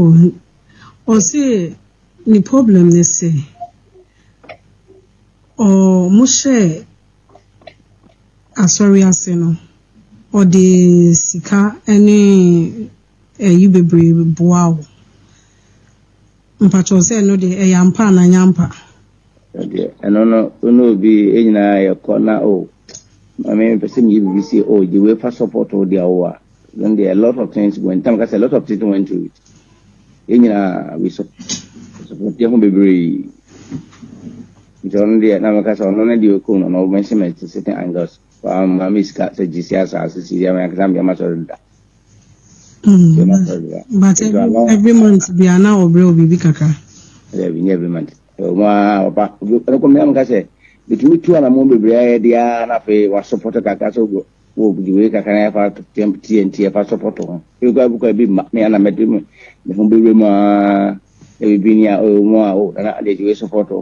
ɔse ne problem ne sɛ, ɔmo hyɛ asɔre ase no, ɔde sika ne ɛyi bebree boa wo. Mpakyɛw sɛ ɛno deɛ ɛyɛ ampa anaa ɛnyɛ ampa? Ɛdeɛ ɛno no ɛna obi nyinaa yɛkɔ na o oh, maame mepɛ sɛ meyɛ biribi si o oh, gye wei fa support wo deɛ wo a then there are a lot of things when tam ka sɛ a lot of things went through it yɛn nyinaa we support yɛ ho bebree nti ɔno deɛ na meka sɛ ɔno no deɛ ɔkɔm no na ɔbɛhyɛ me certain angles maame sika sɛ gye si asaase si deɛ mekasa mdeɛ ma sɔre da Mm, but every, every month be an hour bro bibi kaka. Yeah, we every month. So ma opa, no ko me am ka se, bitumi tu ana mo bebre aye dia na fe wa support kaka so go. Wo bi we kaka na fa temp TNT fa support ho. You go buka bi ma me ana me dem. Me ho bebre ma e bi ni a o mo a o na na de we support ho.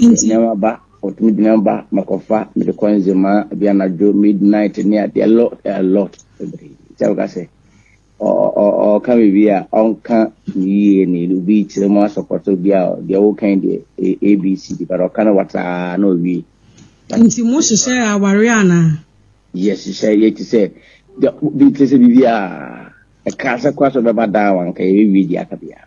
Nti. Nneɛma ba, wɔtumi de nneɛma ba mɛkɔfa mede kɔ nzema bi anadwo midnight ne adeɛ lot a lot bebree sɛ wɔka sɛ ɔka biribi a ɔnka ne yie ne obi kyerɛ mu asɔpɔtɔ bi a deɛ wokan deɛ abc de bɛrɛ ɔka no wataa na owie. nti mo hyehyɛ aware anaa. yɛhyehyɛ yɛte sɛ bi te sɛ biribi a ɛka sɛ kora sɛ ɔbɛba daa wanka yɛbɛwie deɛ aka biara.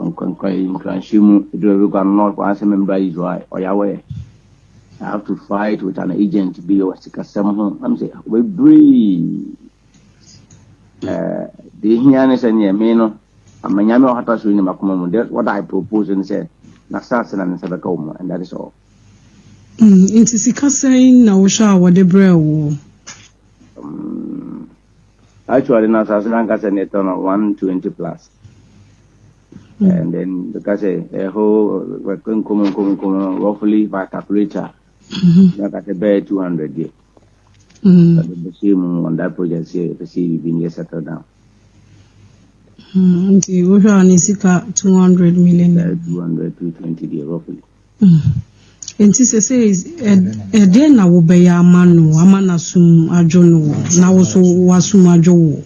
Nkra-nkra yi, nkranhyɛ mu, eduru baabi koraa no, na ɔkɔ asɛ membra Israel, ɔyawɛ. I have to fight with an agent bi wɔ sikasɛm ho. Am sɛ, bebree. Eh, deɛ ehia ne sɛ neɛ me no, ama nyame a ɔhata so nim akoma mu. That what I propose ne sɛ, n'asase na ne nsa bɛka wo mu, and that is all. Mm, nti sika sɛn na wohwɛ a wɔde brɛɛ wo? Mm, Actually no asase no ankasa na ɛtɔ no 120 plus. Mm. And then bɛka sɛ ɛhɔ nkɔmɔ nkɔmɔ nkɔmɔ roughly by calculator na ka sɛ bɛyɛ 200 deɛ. Bɛhyɛ mu on that project sɛ ɛpɛ sɛ biribi no yɛ settle down. Mm, nti wohwɛ a ne sika 200 million. 200 220 deɛ roughly. Mm. Enti sesei ɛdeɛn na wobɛyɛ ama no ama n'asom adwo no wo na wo so w'asom adwo wo?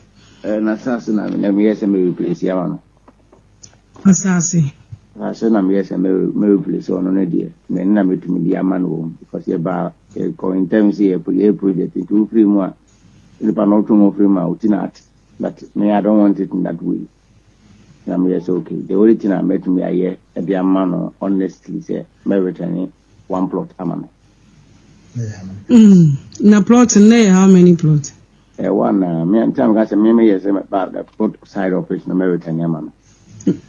N'asase na meyɛ sɛ mereplesi ama no. Asase? Asase na meyɛ sɛ mereplesi ɔno no deɛ mene na metumi de ama no wɔm because yɛba yɛkɔ ntɛm sɛ yɛyɛ project nti wofiri mu a nipa na ɔtwe ho firi mu a woti na ate but me I don't want it in that way. na meyɛ sɛ okay the only thing a mɛtumi ayɛ de ama no honestly sɛ mɛ return one plot ama no. Mm, na plot no yɛ how many plot? Ɛ wa na me nti ameka sɛ me meyɛ sɛ ba the plot side of it no mɛ return ama no.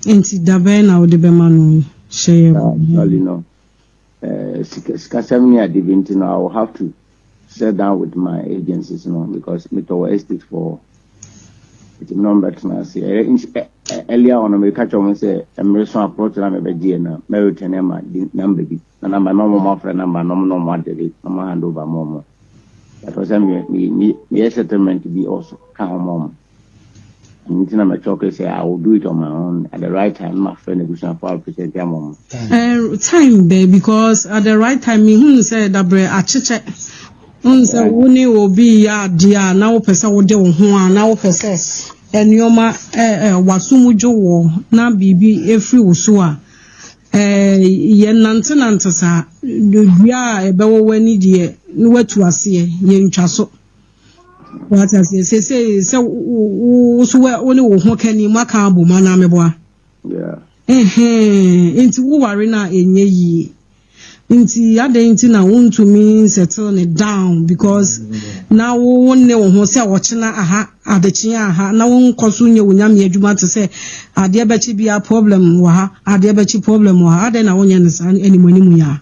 Nti dabɛn na wode bɛma no hyɛ yɛ. Actually no Sika sikasɛm ne ade bi nti no, I will have to sit down with my agencies no because metɔ wɔ estate fɔ hɔ. Nti me na wɔn bɛtena ase. Ɛyɛ nti ɛ ɛ earlier on no meka kyerɛ wɔn sɛ mmere so aplot na mebɛgyeɛ na mɛretɛn ne ma di namba bi. Na namba no wɔn afrɛ namba no wɔn na wɔn adede na wɔn hand over ma wɔn. Ɛtɔ sɛ me me me meyɛ settlement bi also ka wɔn wɔn. Ɛno nti na mɛtɔ ke sɛ I will do it on my own at the right time ma frɛ n'abusuafo a represent ama wɔn. Eh, time bɛn because at the right time mehunu sɛ dabrɛ akyekyɛ wohu sɛ wo ne obi yɛ adeɛ a na wopɛ sɛ wode wo ho a na wopɛ sɛ nneɛma waso mu dwo wɔ na biribi ɛfiri wo so a yɛnantenante saa dua a ɛbɛwɔ w'ani deɛ na watu aseɛ yɛntwa so wata sɛ sesei sɛ wo so wo ne wo ho ka ni moaka abom anaa meboa nti woware no a ɛnyɛ yie nti adɛn nti na wontumi settle ne down because na wo ne wo ho sɛ ɔkyena aha adekyea aha na wonkɔ so nyɛ wo nyame adwuma te sɛ adeɛ bɛkye bia problem wɔ ha adeɛ bɛkye problem wɔ ha adɛn na wonyɛ no saa animanimu yɛ a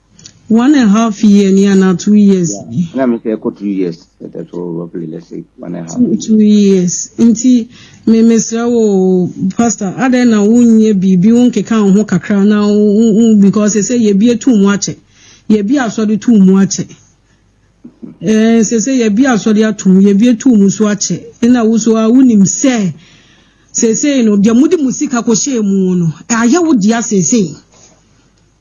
One and half year ni ana two years yeah. ni. Na mi sɛ ɛkɔ two years ɛtɛ so roughly let's say one and half. Two, two years nti mi mi srɛ wo pastor adɛ na wo nyɛ biribi wo nkeka ho kakra na wo because sɛ yɛ bi etu mu akyɛ yɛ bi asɔre tu mu akyɛ ɛɛ eh, sɛ sɛ yɛ bi asɔre atum yɛ bi etu mu so akyɛ ɛna wo so a wo nim sɛ sɛ sɛ no deɛ mo de mo sika kɔ hyɛ mu no ayɛ wo deɛ sɛ sɛ.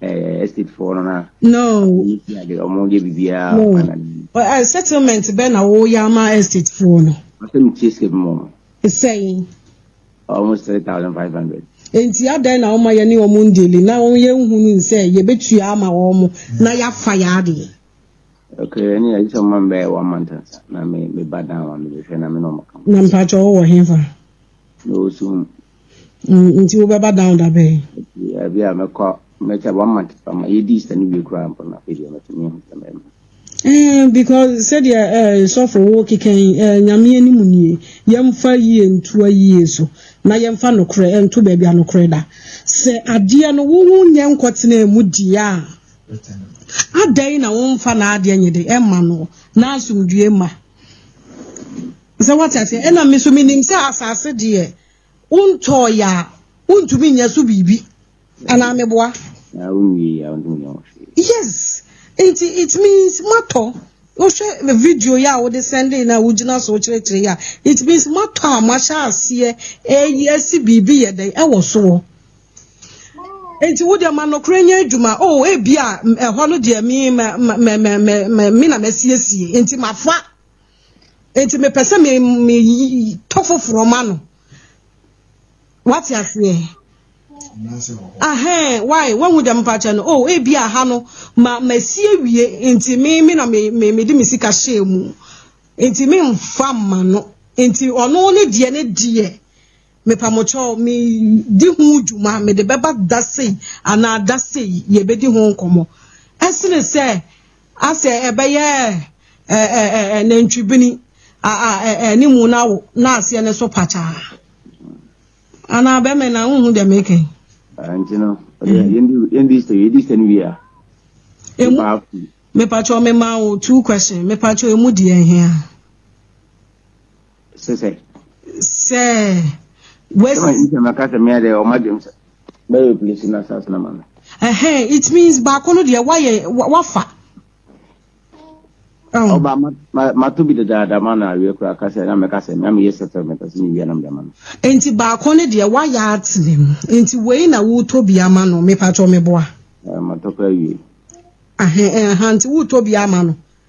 eh, estate foɔ no na no ade ɔmo yɛ biribiara no uh, settlement bɛ na wɔyɛ ama estate foɔ no ɔsɛ metie sika bi mu ɔmo sɛn almost three thousand five hundred nti adɛn na wɔn ayɛ ne wɔn ndeli na wɔn yɛ nhunu nsɛ yɛbɛtua ama wɔn na yɛafa yɛ adeɛ okay ɛne yɛ sɛ ɔma mbɛyɛ one month na me me ba dan wa me bɛhwɛ na me na ɔmo ka na mpakyɛ ɔwɔ hefa na ɔsum Mm, nti wobɛba down da bɛn? Ebi a mɛkɔ mɛkyɛ one month pama yɛdii sɛ no wie koraa mpo no ebi a mɛtumi ahu sɛ mɛma. Eh, because sɛdeɛ eh, sɔfo wo kekɛn eh, nyame anim nie yɛmfa yie ntua yie so na yɛmfa nokorɛ ɛnto baabi a nokorɛ da sɛ adeɛ no wo ho nyɛ nkɔtena mu deɛ a adɛn na womfa n'adeɛ nyɛ de ɛma no na asomdue ma Sɛ woate aseɛ? Ɛna me nso menim sɛ asase deɛ wontɔɔeɛ a wontumi nyɛ so biribi anaa meboa? Na wonwie a wontumi nyɛ ho hwee. Yes, nti it means moatɔ. Wohwɛ video yi a wode sɛndee no a wogyina so wokyerɛkyerɛ yi a, it means moatɔ a moahyɛ aseɛ ɛyi asi biribi yɛ dɛn ɛwɔ soɔ. Nti wo deɛ ma nokorɛ nyɛ adwuma. O oh, ebi a ɛhɔ no deɛ me na masiesie nti mafa. nti mepɛ sɛ metɔ foforɔ ma no wate aseɛ ahɛn why wɔn mu dɛm mpakyɛ no oh ebi aha no ma ma si awie nti me me na me me me de me sika hyɛ mu nti me nfa ma no nti ɔno ne deɛ ne deɛ mepamokyɛw me di ho dwuma me de bɛba da sei anaa da sei yɛbɛdi ho nkɔmɔ ɛsene sɛ asɛ ɛbɛyɛ ɛɛ nantwibini a a ɛɛ ne mu na wo na aseɛ ne so pakyaa anaa bɛmɛ na nhu deɛ meka yi. nti no yɛndi sɛ yɛdi sɛ no wie a emu mepakyɛ ɔmema wo two question mepakyɛ emu deɛ ɛhe a. Sɛ sɛ. Sɛ wes. Sɛ wes ma kasa mi ade ɔma dwem sɛ bɛyɛ polisi na sas na ma no. Ɛhɛn it means baako no deɛ wayɛ wafa. Ọba oh. oh, mato bi dedaada ma na awie kura kasa na mɛka sɛ na meyɛ sɛfɛ mɛpɛ sɛ mewia nam dɛma no. Nti baako ne deɛ wayɛ atene mu nti wei na wotɔ bi ama no mepatɔ meboa. Matɔ kura wie. Ahan nti wotɔ bi ama no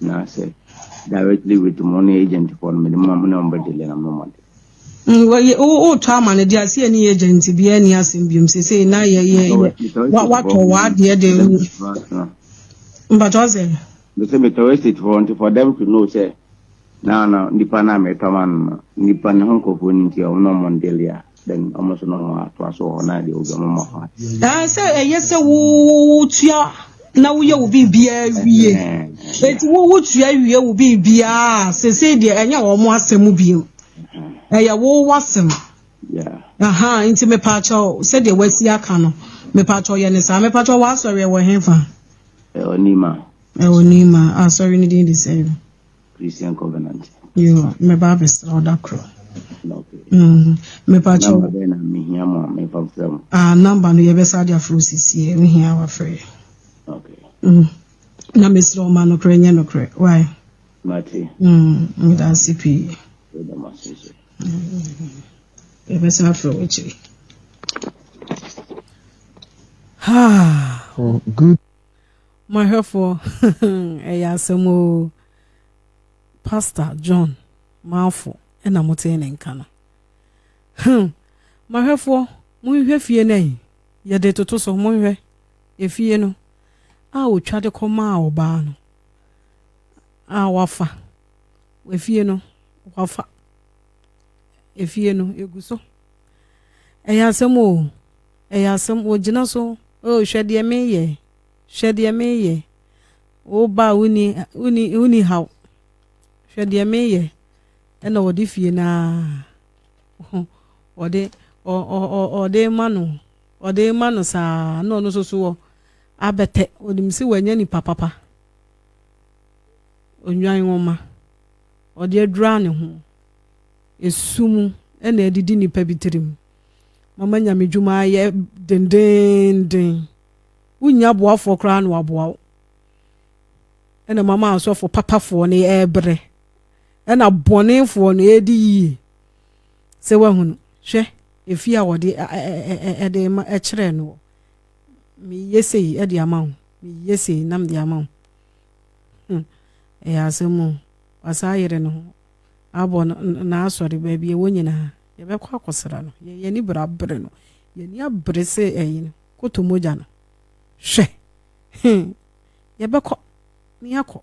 Na sɛ directly with mo ne agent fɔ no mede mo ma mo ne wɔn bɛ dele na mo ma de. Mm, well, yeah, oh, oh, twa man, the asia ni agent, be any asim bium, say, say, na, yeah, yeah, yeah. What, what, or what, yeah, they. But what's it? They say, me to waste it for, for them to know, say, na, na, nipa na, me to man, nipa na, hon, kofu, ninti, ono, mondelia. Then wɔn nso no wɔn atoa so wɔ hɔ na deɛ obi wɔn ma ho ate. Ɛɛ sɛ ɛyɛ sɛ wotua na woyɛ wo biribiara wie. Eti wo wotua wie wo biribiara sese deɛ ɛnyɛ wɔn asɛm bio. Ɛyɛ wo wasɛm. Aha nti mepaakyɛw sɛdeɛ wasi aka no mepaakyɛw yɛ ne saa mepaakyɛw wɔ asɔre ɛwɔ hefa. Ɛwɔ Nima. Ɛwɔ Nima asɔre ne din de sɛ. Christian Covenant. Yoo, mɛba abɛsra wo da koro. Mm, mepa kyɛw. Namba bɛn na mehia mo a mefa mfrɛ mo? Ah, namba no yɛbɛsa de afrɛ wo sisie, wohia wafrɛ. Okay. Mm. Na mesrɛ wo ma nokorɛ nyɛ nokorɛ, why? Mate. Mm, meda ase pii. Meda mo ase nso. Yɛbɛsa afrɛ wo akyiri. Ah, oh, good. Mo ahwɛfoɔ hmm ɛyɛ asɛm oo. Pastor John Mafo na motee ne nka no. Hmm Mahwɛfoɔ monhwɛ fie no ayi yɛde toto so monhwɛ efie no a otwa de kɔ maa ɔbaa no a wafa efie no wafa efie no egu so ɛyɛ asɛm o ɛyɛ asɛm ogyina so o hwɛ deɛ meyɛ Hwɛ deɛ meyɛ. Wo ba a wonni wonni wonni haw. Hwɛ deɛ meyɛ. Ɛna ɔde fie no ara ɔde ɔ ɔ ɔ ɔde ma no ɔde ma no saa na ɔno nso so wɔ abɛtɛ onim sɛ wanya nipa papa onwan nwoma ɔde adura ne ho esu mu ɛna adidi nipa bi tirim mama nyame dwuma ayɛ dendeenden. wonnya aboafoɔ koraa na waboa wo ɛna mama asɔfoɔ papafoɔ no ɛrebrɛ ɛna bɔnefoɔ no ɛredi yie sɛ wahunu hwɛ efie a wɔde ɛde ma ɛkyerɛ no wɔ meyɛ sei ɛde ama wo meyɛ sei nam de ama wo hmm. ɛyɛ asɛm o wasan ayere no ho abɔ n'asɔre baabi ɛwɔ nyinaa yɛbɛkɔ akɔsra no yɛyɛ ne bra bere no yɛni abere sɛ ɛyi no Koto mogya no. Hwɛ! He! Yɛbɛkɔ, na yɛakɔ,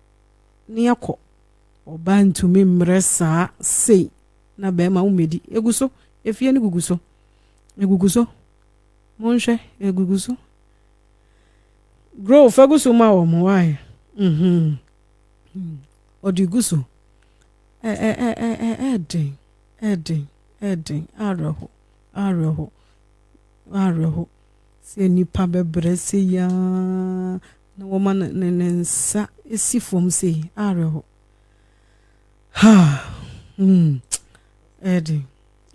na yɛakɔ. Ɔbaa ntumi mmrɛ saa sei na barima wo mmɛdi. Egu so, efie no gugu so. Egugu so. Monhwɛ, egugu so. Grow, fa gu so ma wɔn, why? Mm-hmm. Hmm. Ɔde gu so. Ɛ, ɛ, ɛ, ɛ, ɛ, ɛden, ɛden, ɛden, awerɛho, awerɛho. W'awerɛho sɛ nnipa bɛbrɛ sei ara na wɔma no ne ne nsa si fam sei? Awerɛho. Ha! Hmm. Ɛde,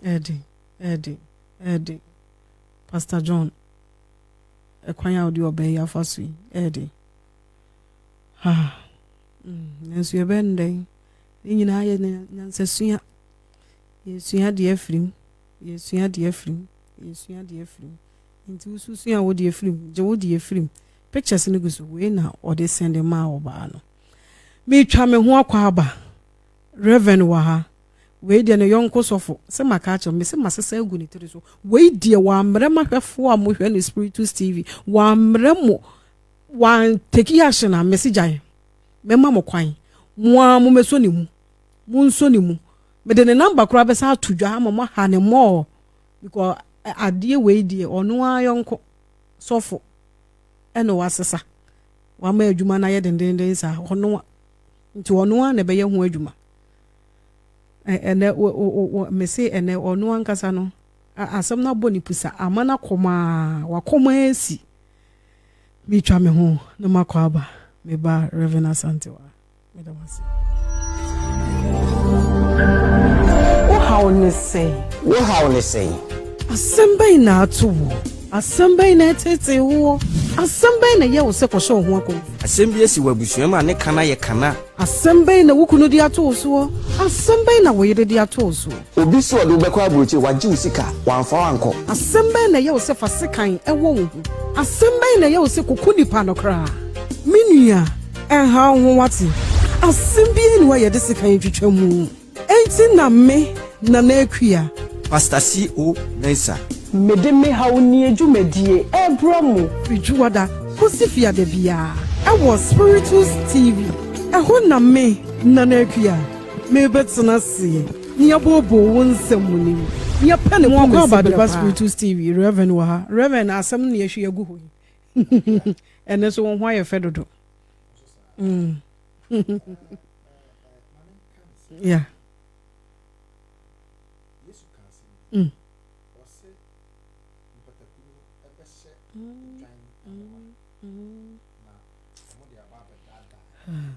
ɛde, ɛde, ɛde. Pastor John, ɛkwan a wode ɔbaa yi afa so yi, ɛde. Ha! Hmm. Nanso yɛbɛn dɛn? Ne nyinaa yɛ nyansasua. Yɛsua deɛ afiri mu. Yɛsua deɛ afiri mu. yɛsua deɛ afiri mu nti wo so sua wo deɛ afiri mu gye wo deɛ afiri mu pictures no gu so wei na ɔde sɛnde maa ɔbaa no metwa me ho akɔ aba reverend wɔ ha wei deɛ ne yɔnko sɔfo sɛ maka akyerɛ me sɛ masesa agu ne tiri so wei deɛ wɔammrɛ mahwɛfoɔ a mohwɛ no spiritus tv wɔammrɛ mo wɔanteki ahyɛ na mese gyae mɛma mo kwan mo a momɛsɔ ne mu monsɔ ne mu mede ne namba koraa bɛsa ato dwa ama moaha ne mmɔɔ because adeɛ wei deɛ ɔno ara yɔnko sɔfo ɛna wasesa wama adwuma no ayɛ dendenden saa ɔno nti ɔno ara na ɛbɛyɛ ho adwuma ɛnɛ mese ɛnɛ ɔno ankasa no asɛm no abɔ ne pusa ama no akɔmaa wakɔma asi metwa me ho na makɔ aba meba Reverend Asante wa meda mo ase wohaw ne sɛn wohaw ne sɛn asɛm bɛn na ato wo asɛm bɛn na ɛtetee woɔ asɛm bɛn na ɛyɛ wo sɛ kɔhyɛ wo ho akɔ asɛm bi asi wɔ abusua mu a ne kana yɛ kana asɛm bɛn na wo kunu de ato wo soɔ asɛm bɛn na wo yere de ato wo soɔ Obi se ɔde wo bɛkɔ abrokyire, wagye wo sika, wamfa wo ankɔ. Asɛm bɛn na ɛyɛ wo sɛ fa sekan wɔ wo ho? Asɛm bɛn na ɛyɛ wo sɛ koko nipa no koraa? Me nua, ɛnha wo ho wate? Asɛm biara nni hɔ a yɛde sekan twitwa mu. Enti na me, Nana Akua. Pastor CO. Mensah. Mede me haw nie dwumadie ɛrebrɛ mo. Firi Dwoada kɔsi Fiada biara ɛwɔ Spiritus TV. Ɛhɔ na me, Nana Akua. Mebɛtena ase ne abooboo wo nsɛm mu nim neɛ pɛ ne kɔmɛsi berɛ paa. Moakɔ Abadepa Spiritus TV, Rev. Wɔ ha. Rev. Asɛm no na yɛahwie agu hɔ yi. Ɛnnɛ nso wo ho ayɛ fɛ dodo. Yeah. Mm. Mm. Mm.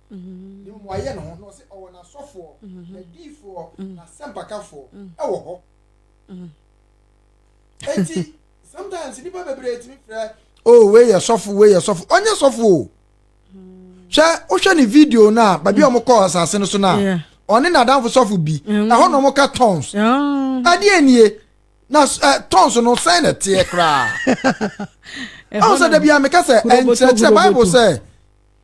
ne mmuaeɛ no ho, na ɔse ɔwɔ n'asɔfoɔ, n'adiyifoɔ, n'asɛmpakafoɔ wɔ hɔ. Enti sometimes nnipa bebree tumi frɛ oh wei yɛ sɔfo wei yɛ sɔfo ɔnyɛ sɔfo o hwɛ wohwɛ ne video no a baabi a wɔn kɔ asase no so no a ɔne n'adanfo sɔfo bi mm. ɛhɔ na wɔn ka tons ɛdeɛ oh. nie na eh, tons no sɛn na ɛteɛ koraa ɛho sɛ dabi a meka sɛ ɛnkyerɛkyerɛ bible sɛ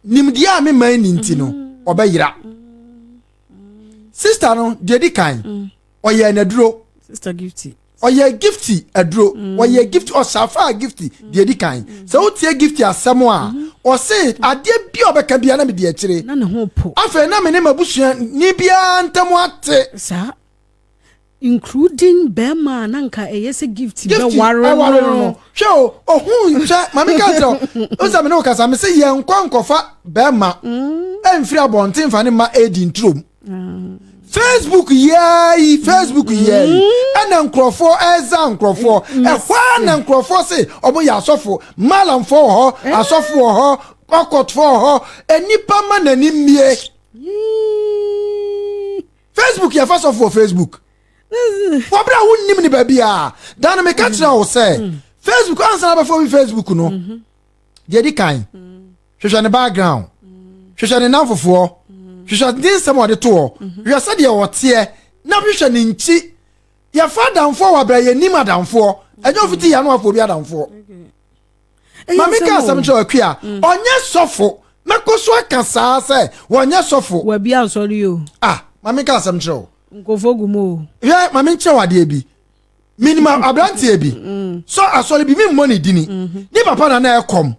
nimdeɛ a me man ni nti no mm-hmm. ɔbɛyera mm-hmm. sista no deɛ di kan mm. ɔyɛ n'aduro ɔyɛ gifti aduro mm. ɔyɛ gifti ɔsafa gifti mm. deɛ di kan sɛ wotie gifti asɛm a mm-hmm. ɔse adeɛ bi a ɔbɛka bia na mede akyire afei na me ne mabusua ni biara ntam ate Nkurow din barima a na anka ɛyɛ sɛ Gifty bɛware no no. Hwɛ o, ohuu, hwɛ, ma me nka nkyerɛ wo, wohu sɛ me ne wo kasa, me se yɛnkɔ nkɔfa barima mfiri abɔnten mfa ne mma ɛredi nturom. Facebook yiaa yi, Facebook yiaa yi, ɛna nkurɔfoɔ ɛreza nkurɔfoɔ, ɛhɔ ara na nkurɔfoɔ se wɔn yɛ asɔfo, malamfoɔ wɔ hɔ, asɔfo wɔ hɔ, ɔkɔtfoɔ wɔ hɔ, nnipa ma n'ani mmie. Facebook yɛ fa sɔfo wɔ Facebook. wɔbrɛ a wonnim ne baabiaa da no meka kyerɛ wo sɛ facebook ansa na bɛfɔ bi facebook no deɛ di kan hwehwɛ ne background hwehwɛ ne namfofoɔ hwehwɛ ne nsɛm ɔde toɔ hwehwɛ sɛdeɛ ɔteɛ na hwehwɛ ne nkyi yɛfa adamfoɔ wɔ abrɛ yɛnim adamfoɔ ɛnyɛ ɔfiti yɛ ano afɔ obi adamfoɔ Maame ka asɛm kyerɛ ɔkwi a mm. ɔnyɛ sɔfo na kɔ so aka saa sɛ wɔnyɛ sɔfo. Wabi asɔre yi o. Ah, maame ka asɛm kyerɛ o. Nkɔfo gu mu o. Hwɛ maame nkyerɛ wɔ adeɛ bi. Minima aberanteɛ bi. Mm. Sɔ asɔre bi mi mmɔ ne dini. Mm-hmm. Ne papa na na ɛkɔm.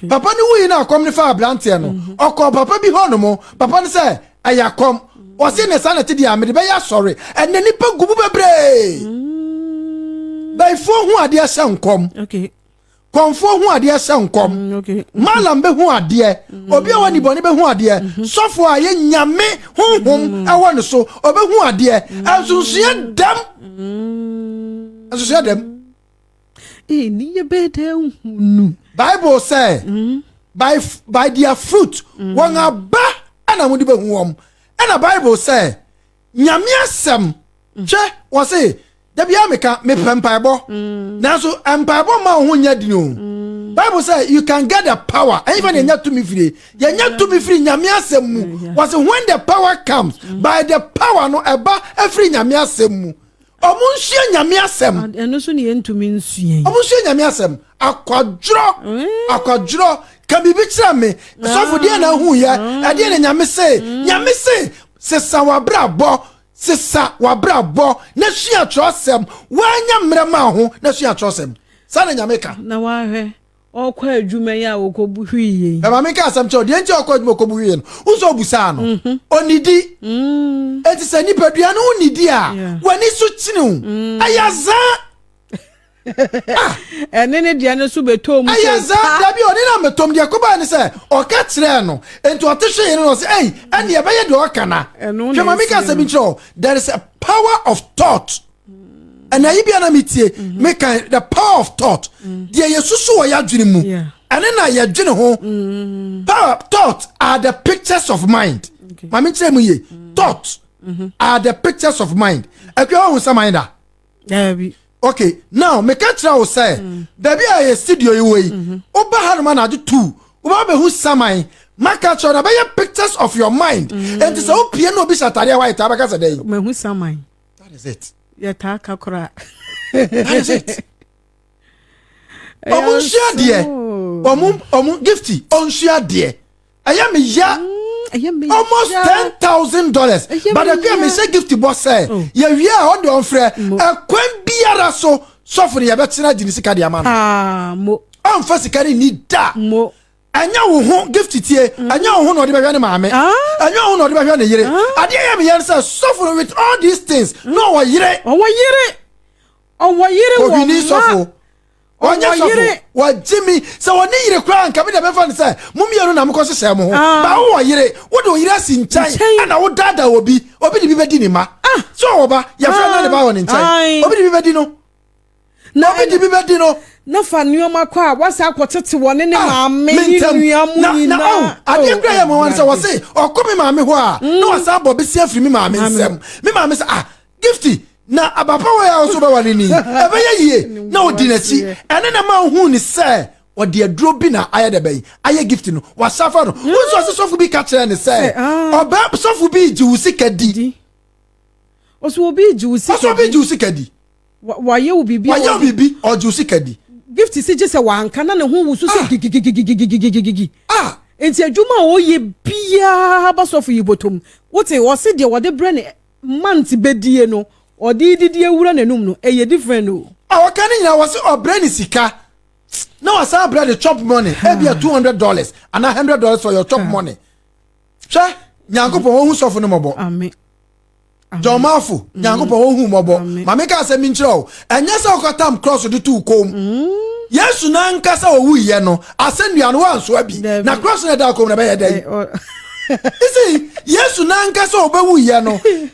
Papa ne wuyi na akɔm ne fa aberanteɛ no. Mm-hmm. Ɔkɔ papa bi hɔ nom. Papa ne sɛ ɛyɛ akɔm. Ɔsi ne saa na ti di a mede bɛyɛ asɔre. Ɛnɛ nipa gu mu bebree. Mm. Bɛyifoɔ ho adeɛ hyɛ nkɔm. Okay. kɔnfoɔ hu adeɛ sɛ nkɔm mm, malam bɛhu adeɛ mm. obi a wɔne bɔne bɛhu adeɛ mm-hmm. sɔfo a yɛ nyame honhom mm. ɛwɔ ne so ɔbɛhu adeɛ ɛnsonsoeɛ mm. dɛm ɛnsonsoeɛ dɛm ɛniyɛ bɛɛ dɛ hunu bible sɛ by, by their fruit wɔn aba ɛna mode bɛhu wɔm ɛna bible sɛ Nyame asɛm. Mm. Hwɛ, wɔ se, da biara meka, mepɛ mpaebɔ. Mm. Nanso, mpaebɔ mma wo ho nyɛ dini o. Mm. Bible sɛ, you can get the power. Ɛnyɛ fɛ na ɛnya tumi firi. Yɛnya tumi firi Nyame asɛm mu. Wɔ se, when the power comes, by the power no, ɛba afiri Nyame asɛm mu. Ɔmo nsua Nyame asɛm. Ah, ɛno so ne yɛntumi nsua yi. Ɔmo nsua Nyame asɛm. Akwadworɔ, eh. akwadworɔ, ka biribi kyerɛ me. Ah. Sɔfo deɛ na ahu yɛ, ah. ɛdeɛ na Nyame se. Mm. Nyame se, sesa w'abrabɔ, sesa w'abrabɔ, na sua twerɛsɛm. Woanya mmerɛ ma ho, na sua twerɛsɛm. Saa na Nyame ka. Na wahwɛ. ɔkɔ adwuma yi a ɔkɔbu hwii yɛ yi. Na maame ka asɛm kyerɛ no, deɛ nti a ɔkɔ adwuma ɔkɔbu hwii yɛ no, wohu sɛ ɔbusaa no? Ɔnnidi. Enti sɛ nipadua no nnidi a, w'ani so kyene wo. Ɛyɛ zaa. Ɛne ne deɛ no nso bɛtɔɔ mu sɛ pa. Ɛyɛ zaa, dabi, ɔne no ammɛtɔm. Deɛ ɛkɔbaeɛ ne sɛ, ɔka kyerɛɛ no, enti ɔte hwee no na ɔse, ei, ɛnneɛ ɛbɛyɛ deɛ ɔka na. Hwɛ, maame ka asɛm bi nkyerɛ wo, there is a power of thought. ɛna ayi bia na metie mhm. meka the power of thought mm. deɛ yɛsusu wɔ yɛadwene mu ɛne na yɛdwene ho mm. power thought are the pictures of mind ma menkyerɛ mu ye mm. thought mm-hmm. are the pictures of mind akua wahu sɛ mind a okay now meka kyerɛ wo sɛ baabi a yɛ studio yi wɔ yi mm-hmm. woba ha noma na agye tu woba bɛhu saman maka kyerɛ na bɛyɛ pictures of your mind ɛnti sɛ wopie na obi hyɛ atadeɛ white a bɛka sɛ dɛn That is it. Yɛtaa ka koraa. That is it. Ɔmo nsua deɛ. Ɔmo ɔmo gifti ɔnsua deɛ. Ɛyɛ mi ya. Mm, Almost ten thousand dollars. But ɛkò yɛ mi sɛ gifti bɔ sɛ. Oh. Yɛ wia a ɔde ɔnfrɛ. Ɛkwan biara so sɔfo ni yɛ bɛ tena di ni sika di ama no. Ɔnfa sika ni ni da. Ɛnyɛ wo ho, Gift tie, ɛnyɛ wo ho na ɔde bɛhwɛ ne maame, ɛnyɛ wo ho na ɔde bɛhwɛ ne yere. Adeɛ ɛyɛ me ya ne sɛ, sɔfo no with all these things, na ɔwɔ yere. Ɔwɔ yere, ɔwɔ yere, wɔ mma. Ohwini sɔfo, ɔnyɛ sɔfo, wagye me. Sɛ ɔnni yere koraa a, nka me deɛ mɛmfa no sɛ mo mmienu na mokɔ hyehyɛɛ mo ho. But wowɔ yere, wode wo yere asi nkyɛn ɛna wodaadaa obi, obi de bi bɛdi ne mma. Sɛ ɔwɔ ba, yɛmfa nna ne ba wɔ ne nkyɛn, obi de bi bɛdi no. Na obi de bi bɛdi no. Na fa nneɛma kɔ a wasa akɔtete wɔ ne ne ah, maame ne nua mu nyinaa. Oh, oh, adeɛ kura yɛ mmoa no sɛ wɔse ɔkɔ me maame hɔ a mm. na wasa abɔ bɛsi afiri me maame nsɛm me maame sɛ ah gifty na abapa wɔ yɛ a ɔso bɛware ni ɛbɛyɛ yie na ɔdi n'akyi ɛne na ma ohun ne sɛ ɔde aduro bi na ayɛ dɛ bɛyi ayɛ gift no wasafa no mm. wɔn nso ɔsi sɔfo bi ka kyerɛ ne sɛ ah. ɔbɛ sɔfo bi gye wo sika di ɔsɔ obi gye wo sika di ɔsɔ obi gye wo sika di. Wɔayɛ wo biribi. Wɔayɛ wo biribi, ɔgye wo sika di. Gift si gye sɛ wanka na ne ho wusu sɛ gigigigigigigigigigi. Ah! Nti adwuma a ɔyɛ biara ba sɔfo yi bɔtɔm. Wote, ɔse deɛ wɔde brɛ ne month bɛdie no, ɔde didi awura n'anum no, ɛyɛ different o. A ɔka ne nyinaa, wɔse ɔbrɛ ne sika na wasan abrɛ de chop money, ebia two hundred dollars anaa hundred dollars for your chop money. Hwɛ, Nyankopɔn, ɔhu sɔfo no mmɔbɔ. Amen. Jɔnmaafo, Nyankopɔn, wɔn hu mmɔbɔ. Ma menka asɛm bi nkyerɛ wo. Ɛnyɛ sɛ ɔkatam krɔso de too kɔn mu. Mm. Yesu nankasa owuiɛ no, asɛnnua no wansoa bi. Na krɔso na ɛdaa kɔn mu na ɛbɛyɛ dɛn? Isi, Yesu nankasa ɔbɛwuiɛ no,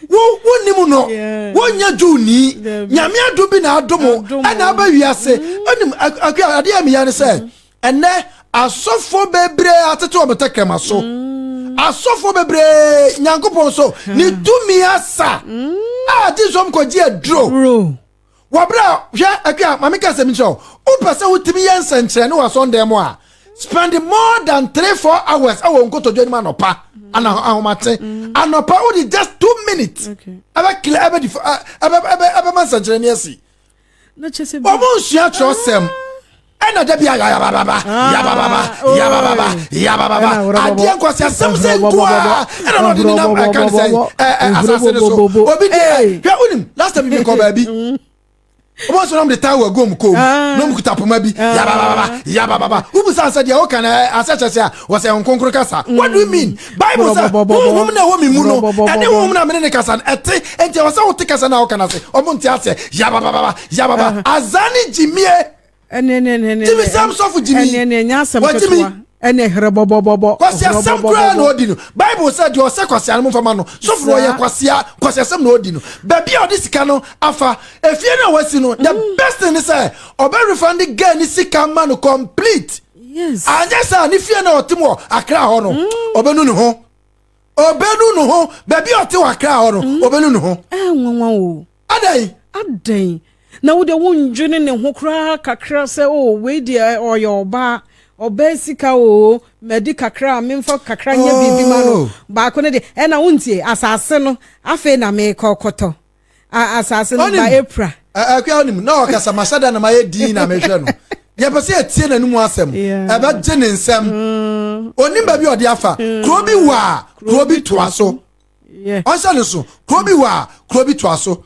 wo wonim no. Wonyɛ Jewni. Nyame adom bi na adom ɛna aba wiase. Onim, mm. adeɛ a meyɛ ne sɛ, mm-hmm. Ɛnɛ asɔfoɔ bebree atete wɔn tɛkrɛma so. Mm. Asɔfoɔ bebree Nyankopɔn so hmm. ne tumi asa hmm. a gye sɔm kɔgye aduro. Wɔbrɛ hwɛ atwa a maame kasa mi kyerɛ wo. Wopɛ sɛ wotumi yɛ nsɛnkyerɛnne wɔ asɔndɛn mu a spend more than three four hours ɛwɔ nkotodwe anim anɔpa ana ahomakye hmm. anɔpa wode just two minutes ɛbɛ kila ɛbɛ ɛbɛ ɛbɛ ɛbɛ ma nsɛnkyerɛnne asi. wɔn nsua kyerɛsɛm ɛna dabi a yabababa ah, yabababa oh. yabababa yabababa adeɛ nkwasi asɛm sɛ nkoa ɛna na ɔde ne nam ɛka ne sɛ ɛɛ asase ne so obi di ɛ hwɛ wunim last time bi kɔ baabi wɔn nso nam de taa wɔ agom kɔn mu ah. na wɔn kuta poma bi ah. yabababa yabababa wubusa asɛ deɛ ɔka na asɛ kyɛ sɛ a wɔsɛ nkonkoro kasa what do you mean Bible sɛ honhom na ɛwɔ me mu no ɛne honhom na mene ne kasa no ɛte enti ɛwɔ sɛ wote kasa no a woka no ase ɔmo nte aseɛ yabababa yababa azaa ne gyimie gyimi sɛm sɔfo gyimi wagyimi ɛne herɛ bɔbɔbɔbɔ kwasiasɛm koraa na ɔdi no bible sɛ deɛ ɔsɛ kwasia no mfama no sɔfo no ɔyɛ kwasia kwasiasɛm na ɔdi no baabi a ɔde sika no afa efie no a wasi no the mm. best thing ne sɛ ɔbɛ refund girl ne sika ma no complete anyɛ saa ne fie na ɔtem wɔ akra hɔ no mm. ɔbɛnu ne ho ɔbɛnu ne ho baabi a ɔte wɔ akra hɔ no mm. ɔbɛnu ne ho eh, adɛn adɛn na wode wondwene ne ho koraa kakra sɛ o oh, wei deɛ ɔyɛ ɔbaa ɔbaa sika o madi kakra a memfa kakra nyɛ biribi ma no oh. baako no deɛ ɛna wontie asase no afei na mekɔkɔtɔ a asase no ba apira. Akua onim na ɔkasa ma sɛdeɛ na mayɛ din na mehwɛ no. Yɛpɛ sɛ yɛtie n'anim asɛm. Ɛbɛgye ne nsɛm. Mm. Onim baabi ɔde afa. Mm. Kuro bi wɔ a kuro bi toa so. Ɔnhyɛ ne so. Kuro bi wɔ a kuro bi toa so.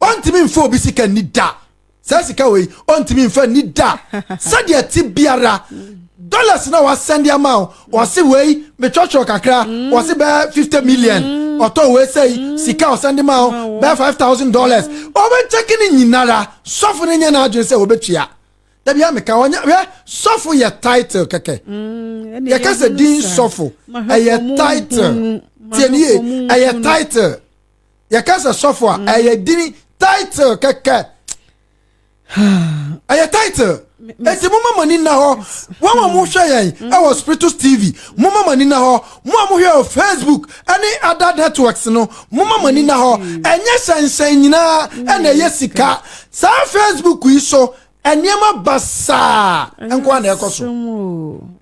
Ɔntumi mfa obi sika ni da. Saa sika wei, ɔntumi mfa nni da. Sɛdeɛ ɛte biara, dollars na wasɛnde ama wo, wɔse wei, metwɔtwɔ kakra, wɔse bɛɛ 50 million, ɔtɔ wei sɛi, sika ɔsɛnde ma wo, bɛɛ 5,000 dollars. Ɔbɛkyɛke ne nyinara, sɔfo no nyɛ n'adwene sɛ ɔbɛtua. Da biara meka, ɔnyɛ, hwɛ, sɔfo yɛ title kɛkɛ. Mm, Yɛka sɛ din sɔfo, ɛyɛ title. Tiɛnie, ɛyɛ title. yɛka sɛ sɔfo a mm. ɛyɛ dini title kɛkɛ ɛyɛ title eti mo ma mo ani na hɔ wɔn a mo hwɛ yɛn mm. ɛwɔ spiritus tv mo ma mo ani na hɔ mo a mo hwɛ wɔ facebook ɛne other networks no mo ma mo ani na hɔ mm. ɛnyɛ hyɛnhyɛn nyinaa ɛna ɛyɛ sika saa facebook yi so nneɛma basaa nko na ɛkɔ so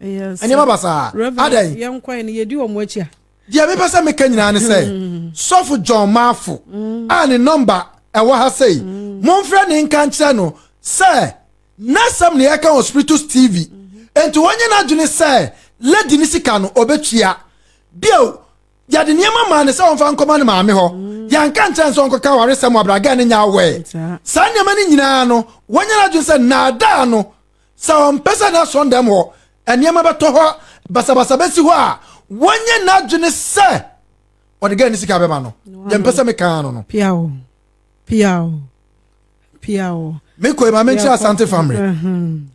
nneɛma basaa adan. yɛn kwan no yɛdi wɔn akyi a. Deɛ mepɛ sɛ meka nyinaa ne sɛ, Sɔfo John Mafo a ne nɔmba ɛwɔ ha sei, momfrɛ no nka nkyerɛ no sɛ n'asɛm na yɛka wɔ Spiritus TV. Enti ɔnyɛ n'adwene sɛ lady no sika no ɔbɛtua. Bio, yɛde nneɛma maa no sɛ ɔmfa nkɔma ne maame hɔ. Yɛanka nkyerɛ no sɛ ɔnkɔka awaresɛm wɔ abragɛɛ no nyɛ aware. Saa nneɛma no nyinaa no, wanyɛ n'adwene sɛ nnaadaa no Sɛ ɔmpɛ sɛ n'asɔndam hɔ nneɛma bɛtɔ hɔ basabasa bɛsi hɔ a, wɔnyɛ n'adwene sɛ ɔde gaa ne sika bɛma no. Yɛmpɛ sɛ mekaa no no. Piao, piao, piao. Mekɔe ma menkyerɛ Asante Famre,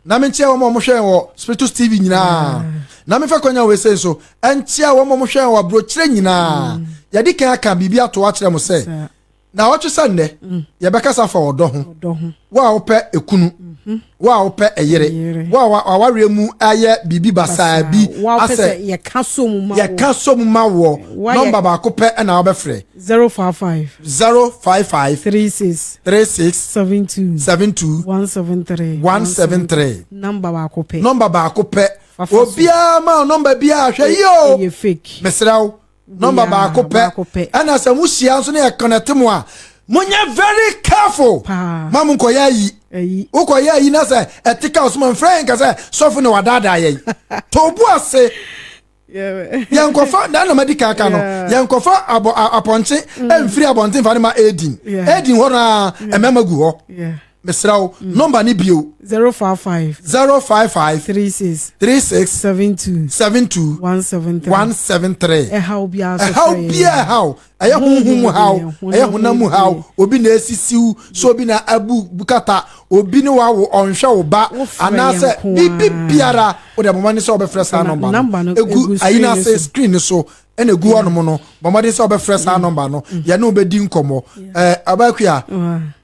na menkyerɛ wɔn a wɔhwɛɛ wɔ Spiritus TV nyinaa, na mefa kwanya wei sei nso nkyerɛ wɔn a wɔhwɛɛ wɔ aburokyerɛ nyinaa. Yɛde kan aka biribi ato akyerɛ mo sɛ, na ɔtwe sɛ nnɛ mm. yɛbɛkasa fa ɔdɔ ho wo a wopɛ ekunu mhm. wo a wopɛ ɛyere wo a awareɛ mu ayɛ biribi basaa bi asɛ yɛka so mu ma wɔ nɔmba baako pɛ ɛna wobɛfrɛ 055 055 36 36 72 72 173 173 nɔmba baako pɛ nɔmba baako pɛ obiara ma nɔmba biara hwɛ yi o mesrɛ wo nɔmba baako pɛ ɛna sɛ mo hyia nso na yɛ connect mo a mo nyɛ very careful ma mo nkɔyɛ ayi wokɔyɛ ayi na sɛ ɛte ka ɔsoma mfrɛ yɛn kasɛ sɔfo na wadaadaa yɛn to bo ase yɛnkɔfa na na madi kaka no yɛnkɔfa abɔ apɔnkye mfiri abɔnten fa ne ma edin edin hɔ no a mmarima gu hɔ. mesrɛ wo mm. nɔmba no bio 055 055 36 36 72 72 173 173 ɛhaw biara so ɛhaw biara ɛhaw ɛyɛ honhom mu haw ɛyɛ honam mu haw obi na esisiw so obi na abu bukata obi ne wa wo ɔnhwɛ wo ba anaasɛ biribi biara o de ɛmoma ne sɛ ɔbɛfrɛ saa nɔmba no egu ayi na ase screen so ɛna egu hɔnom no bɔ mmɔden sɛ ɔbɛfrɛ saa nɔmba no yɛne wo bɛdi nkɔmmɔ ɛɛ abakua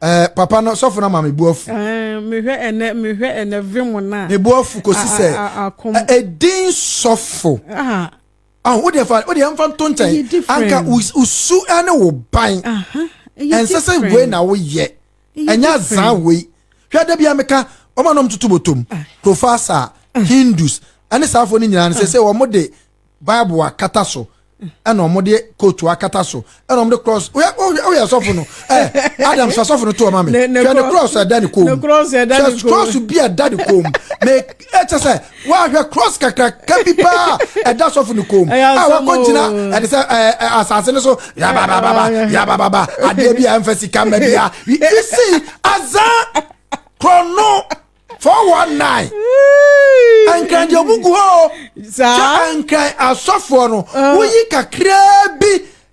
ɛɛ papa no sɔfo no ama me bu afu. mehwɛ ɛnɛ mehwɛ ɛnɛ vim na. me bu afu kɔsi sɛ ɛdin sɔfo. ahu wo deɛ fa wo deɛ nfa nto nkyɛn anka usu ɛne wo ban ɛnsɛ sɛ wei na woyɛ ɛnyɛ azan wei hwɛ dɛ bi a meka wɔn a nom tutu botom profasa hindus ɛne saafo no nyinaa no sɛ sɛ wɔn de. bible akata so ɛna wɔn de kootu akata so ɛna wɔn de cross oyɛ oyɛ asɔfo no ɛɛ adam sɛ asɔfo no to ɔma mi hwɛ ne cross ɛda ne kɔn mu hwɛ cross bi ɛda ne kɔn mu na ɛkyɛ sɛ wahwɛ cross kakraka bi paa ɛda asɔfo ne kɔn mu a wakɔ gyina ɛde sɛ ɛɛ asase no so yabababa yabababa adeɛ bi a ɛnfɛ sika mɛ bi a you see azan kɔnɔ. 419 ɛnkran deɛ ɔmu gu hɔ o kyɛ ɛnkran asɔfoɔ no ah. woyi kakraa bi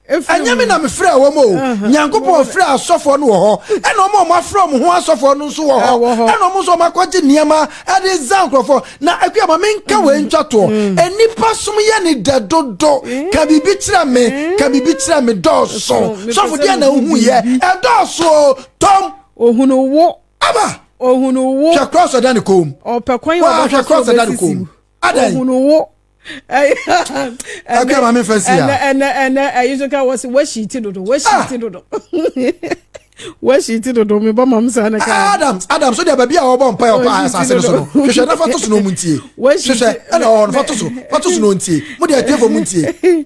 ɛnyɛ me na mefrɛ wɔ m o uh-huh. nyankopɔn frɛ asɔfoɔ no wɔ hɔ ɛna ɔma ɔma afrɛ ɔmo ho asɔfoɔ no nso wɔ hɔ ah, ɛna ɔmo nso ɔma akɔgye nneɛma ɛde za nkurɔfoɔ na akua ma menka wei mm. ntwatoɔ mm. nnipa som yɛ ne dɛ dodo mm. ka biribi kyerɛ me ka biribi kyerɛ me dɔɔso sɔfo deɛ na wohu yɛ ɛdɔɔso tɔm ohunu wo Ama. Ohunu wo. Hwɛ cross ɔda ne kɔn mu. Ɔpɛ kwan yi ɔbɛfa so ɔbɛsisi. Hwɛ cross ɔda ne kɔn mu. Adan. Ohunu wo. Akua maame nfa si ya. Ɛnɛ ɛnɛ ɛyi so ka wɔsi wɔsi ti dodo wɔsi ah! ti dodo. Wɔsi ti dodo mi bɔ maame sa ne ka. Ah, Adams Adams o de baabi a wɔbɔ mpa yɛ ɔkɔ asase no so no hwehwɛ na fa to so na ɔmu ntie. Hwehwɛ ɛna ɔhɔ no fa to so fa to so na ɔntie mo de ɛtefo mu ntie.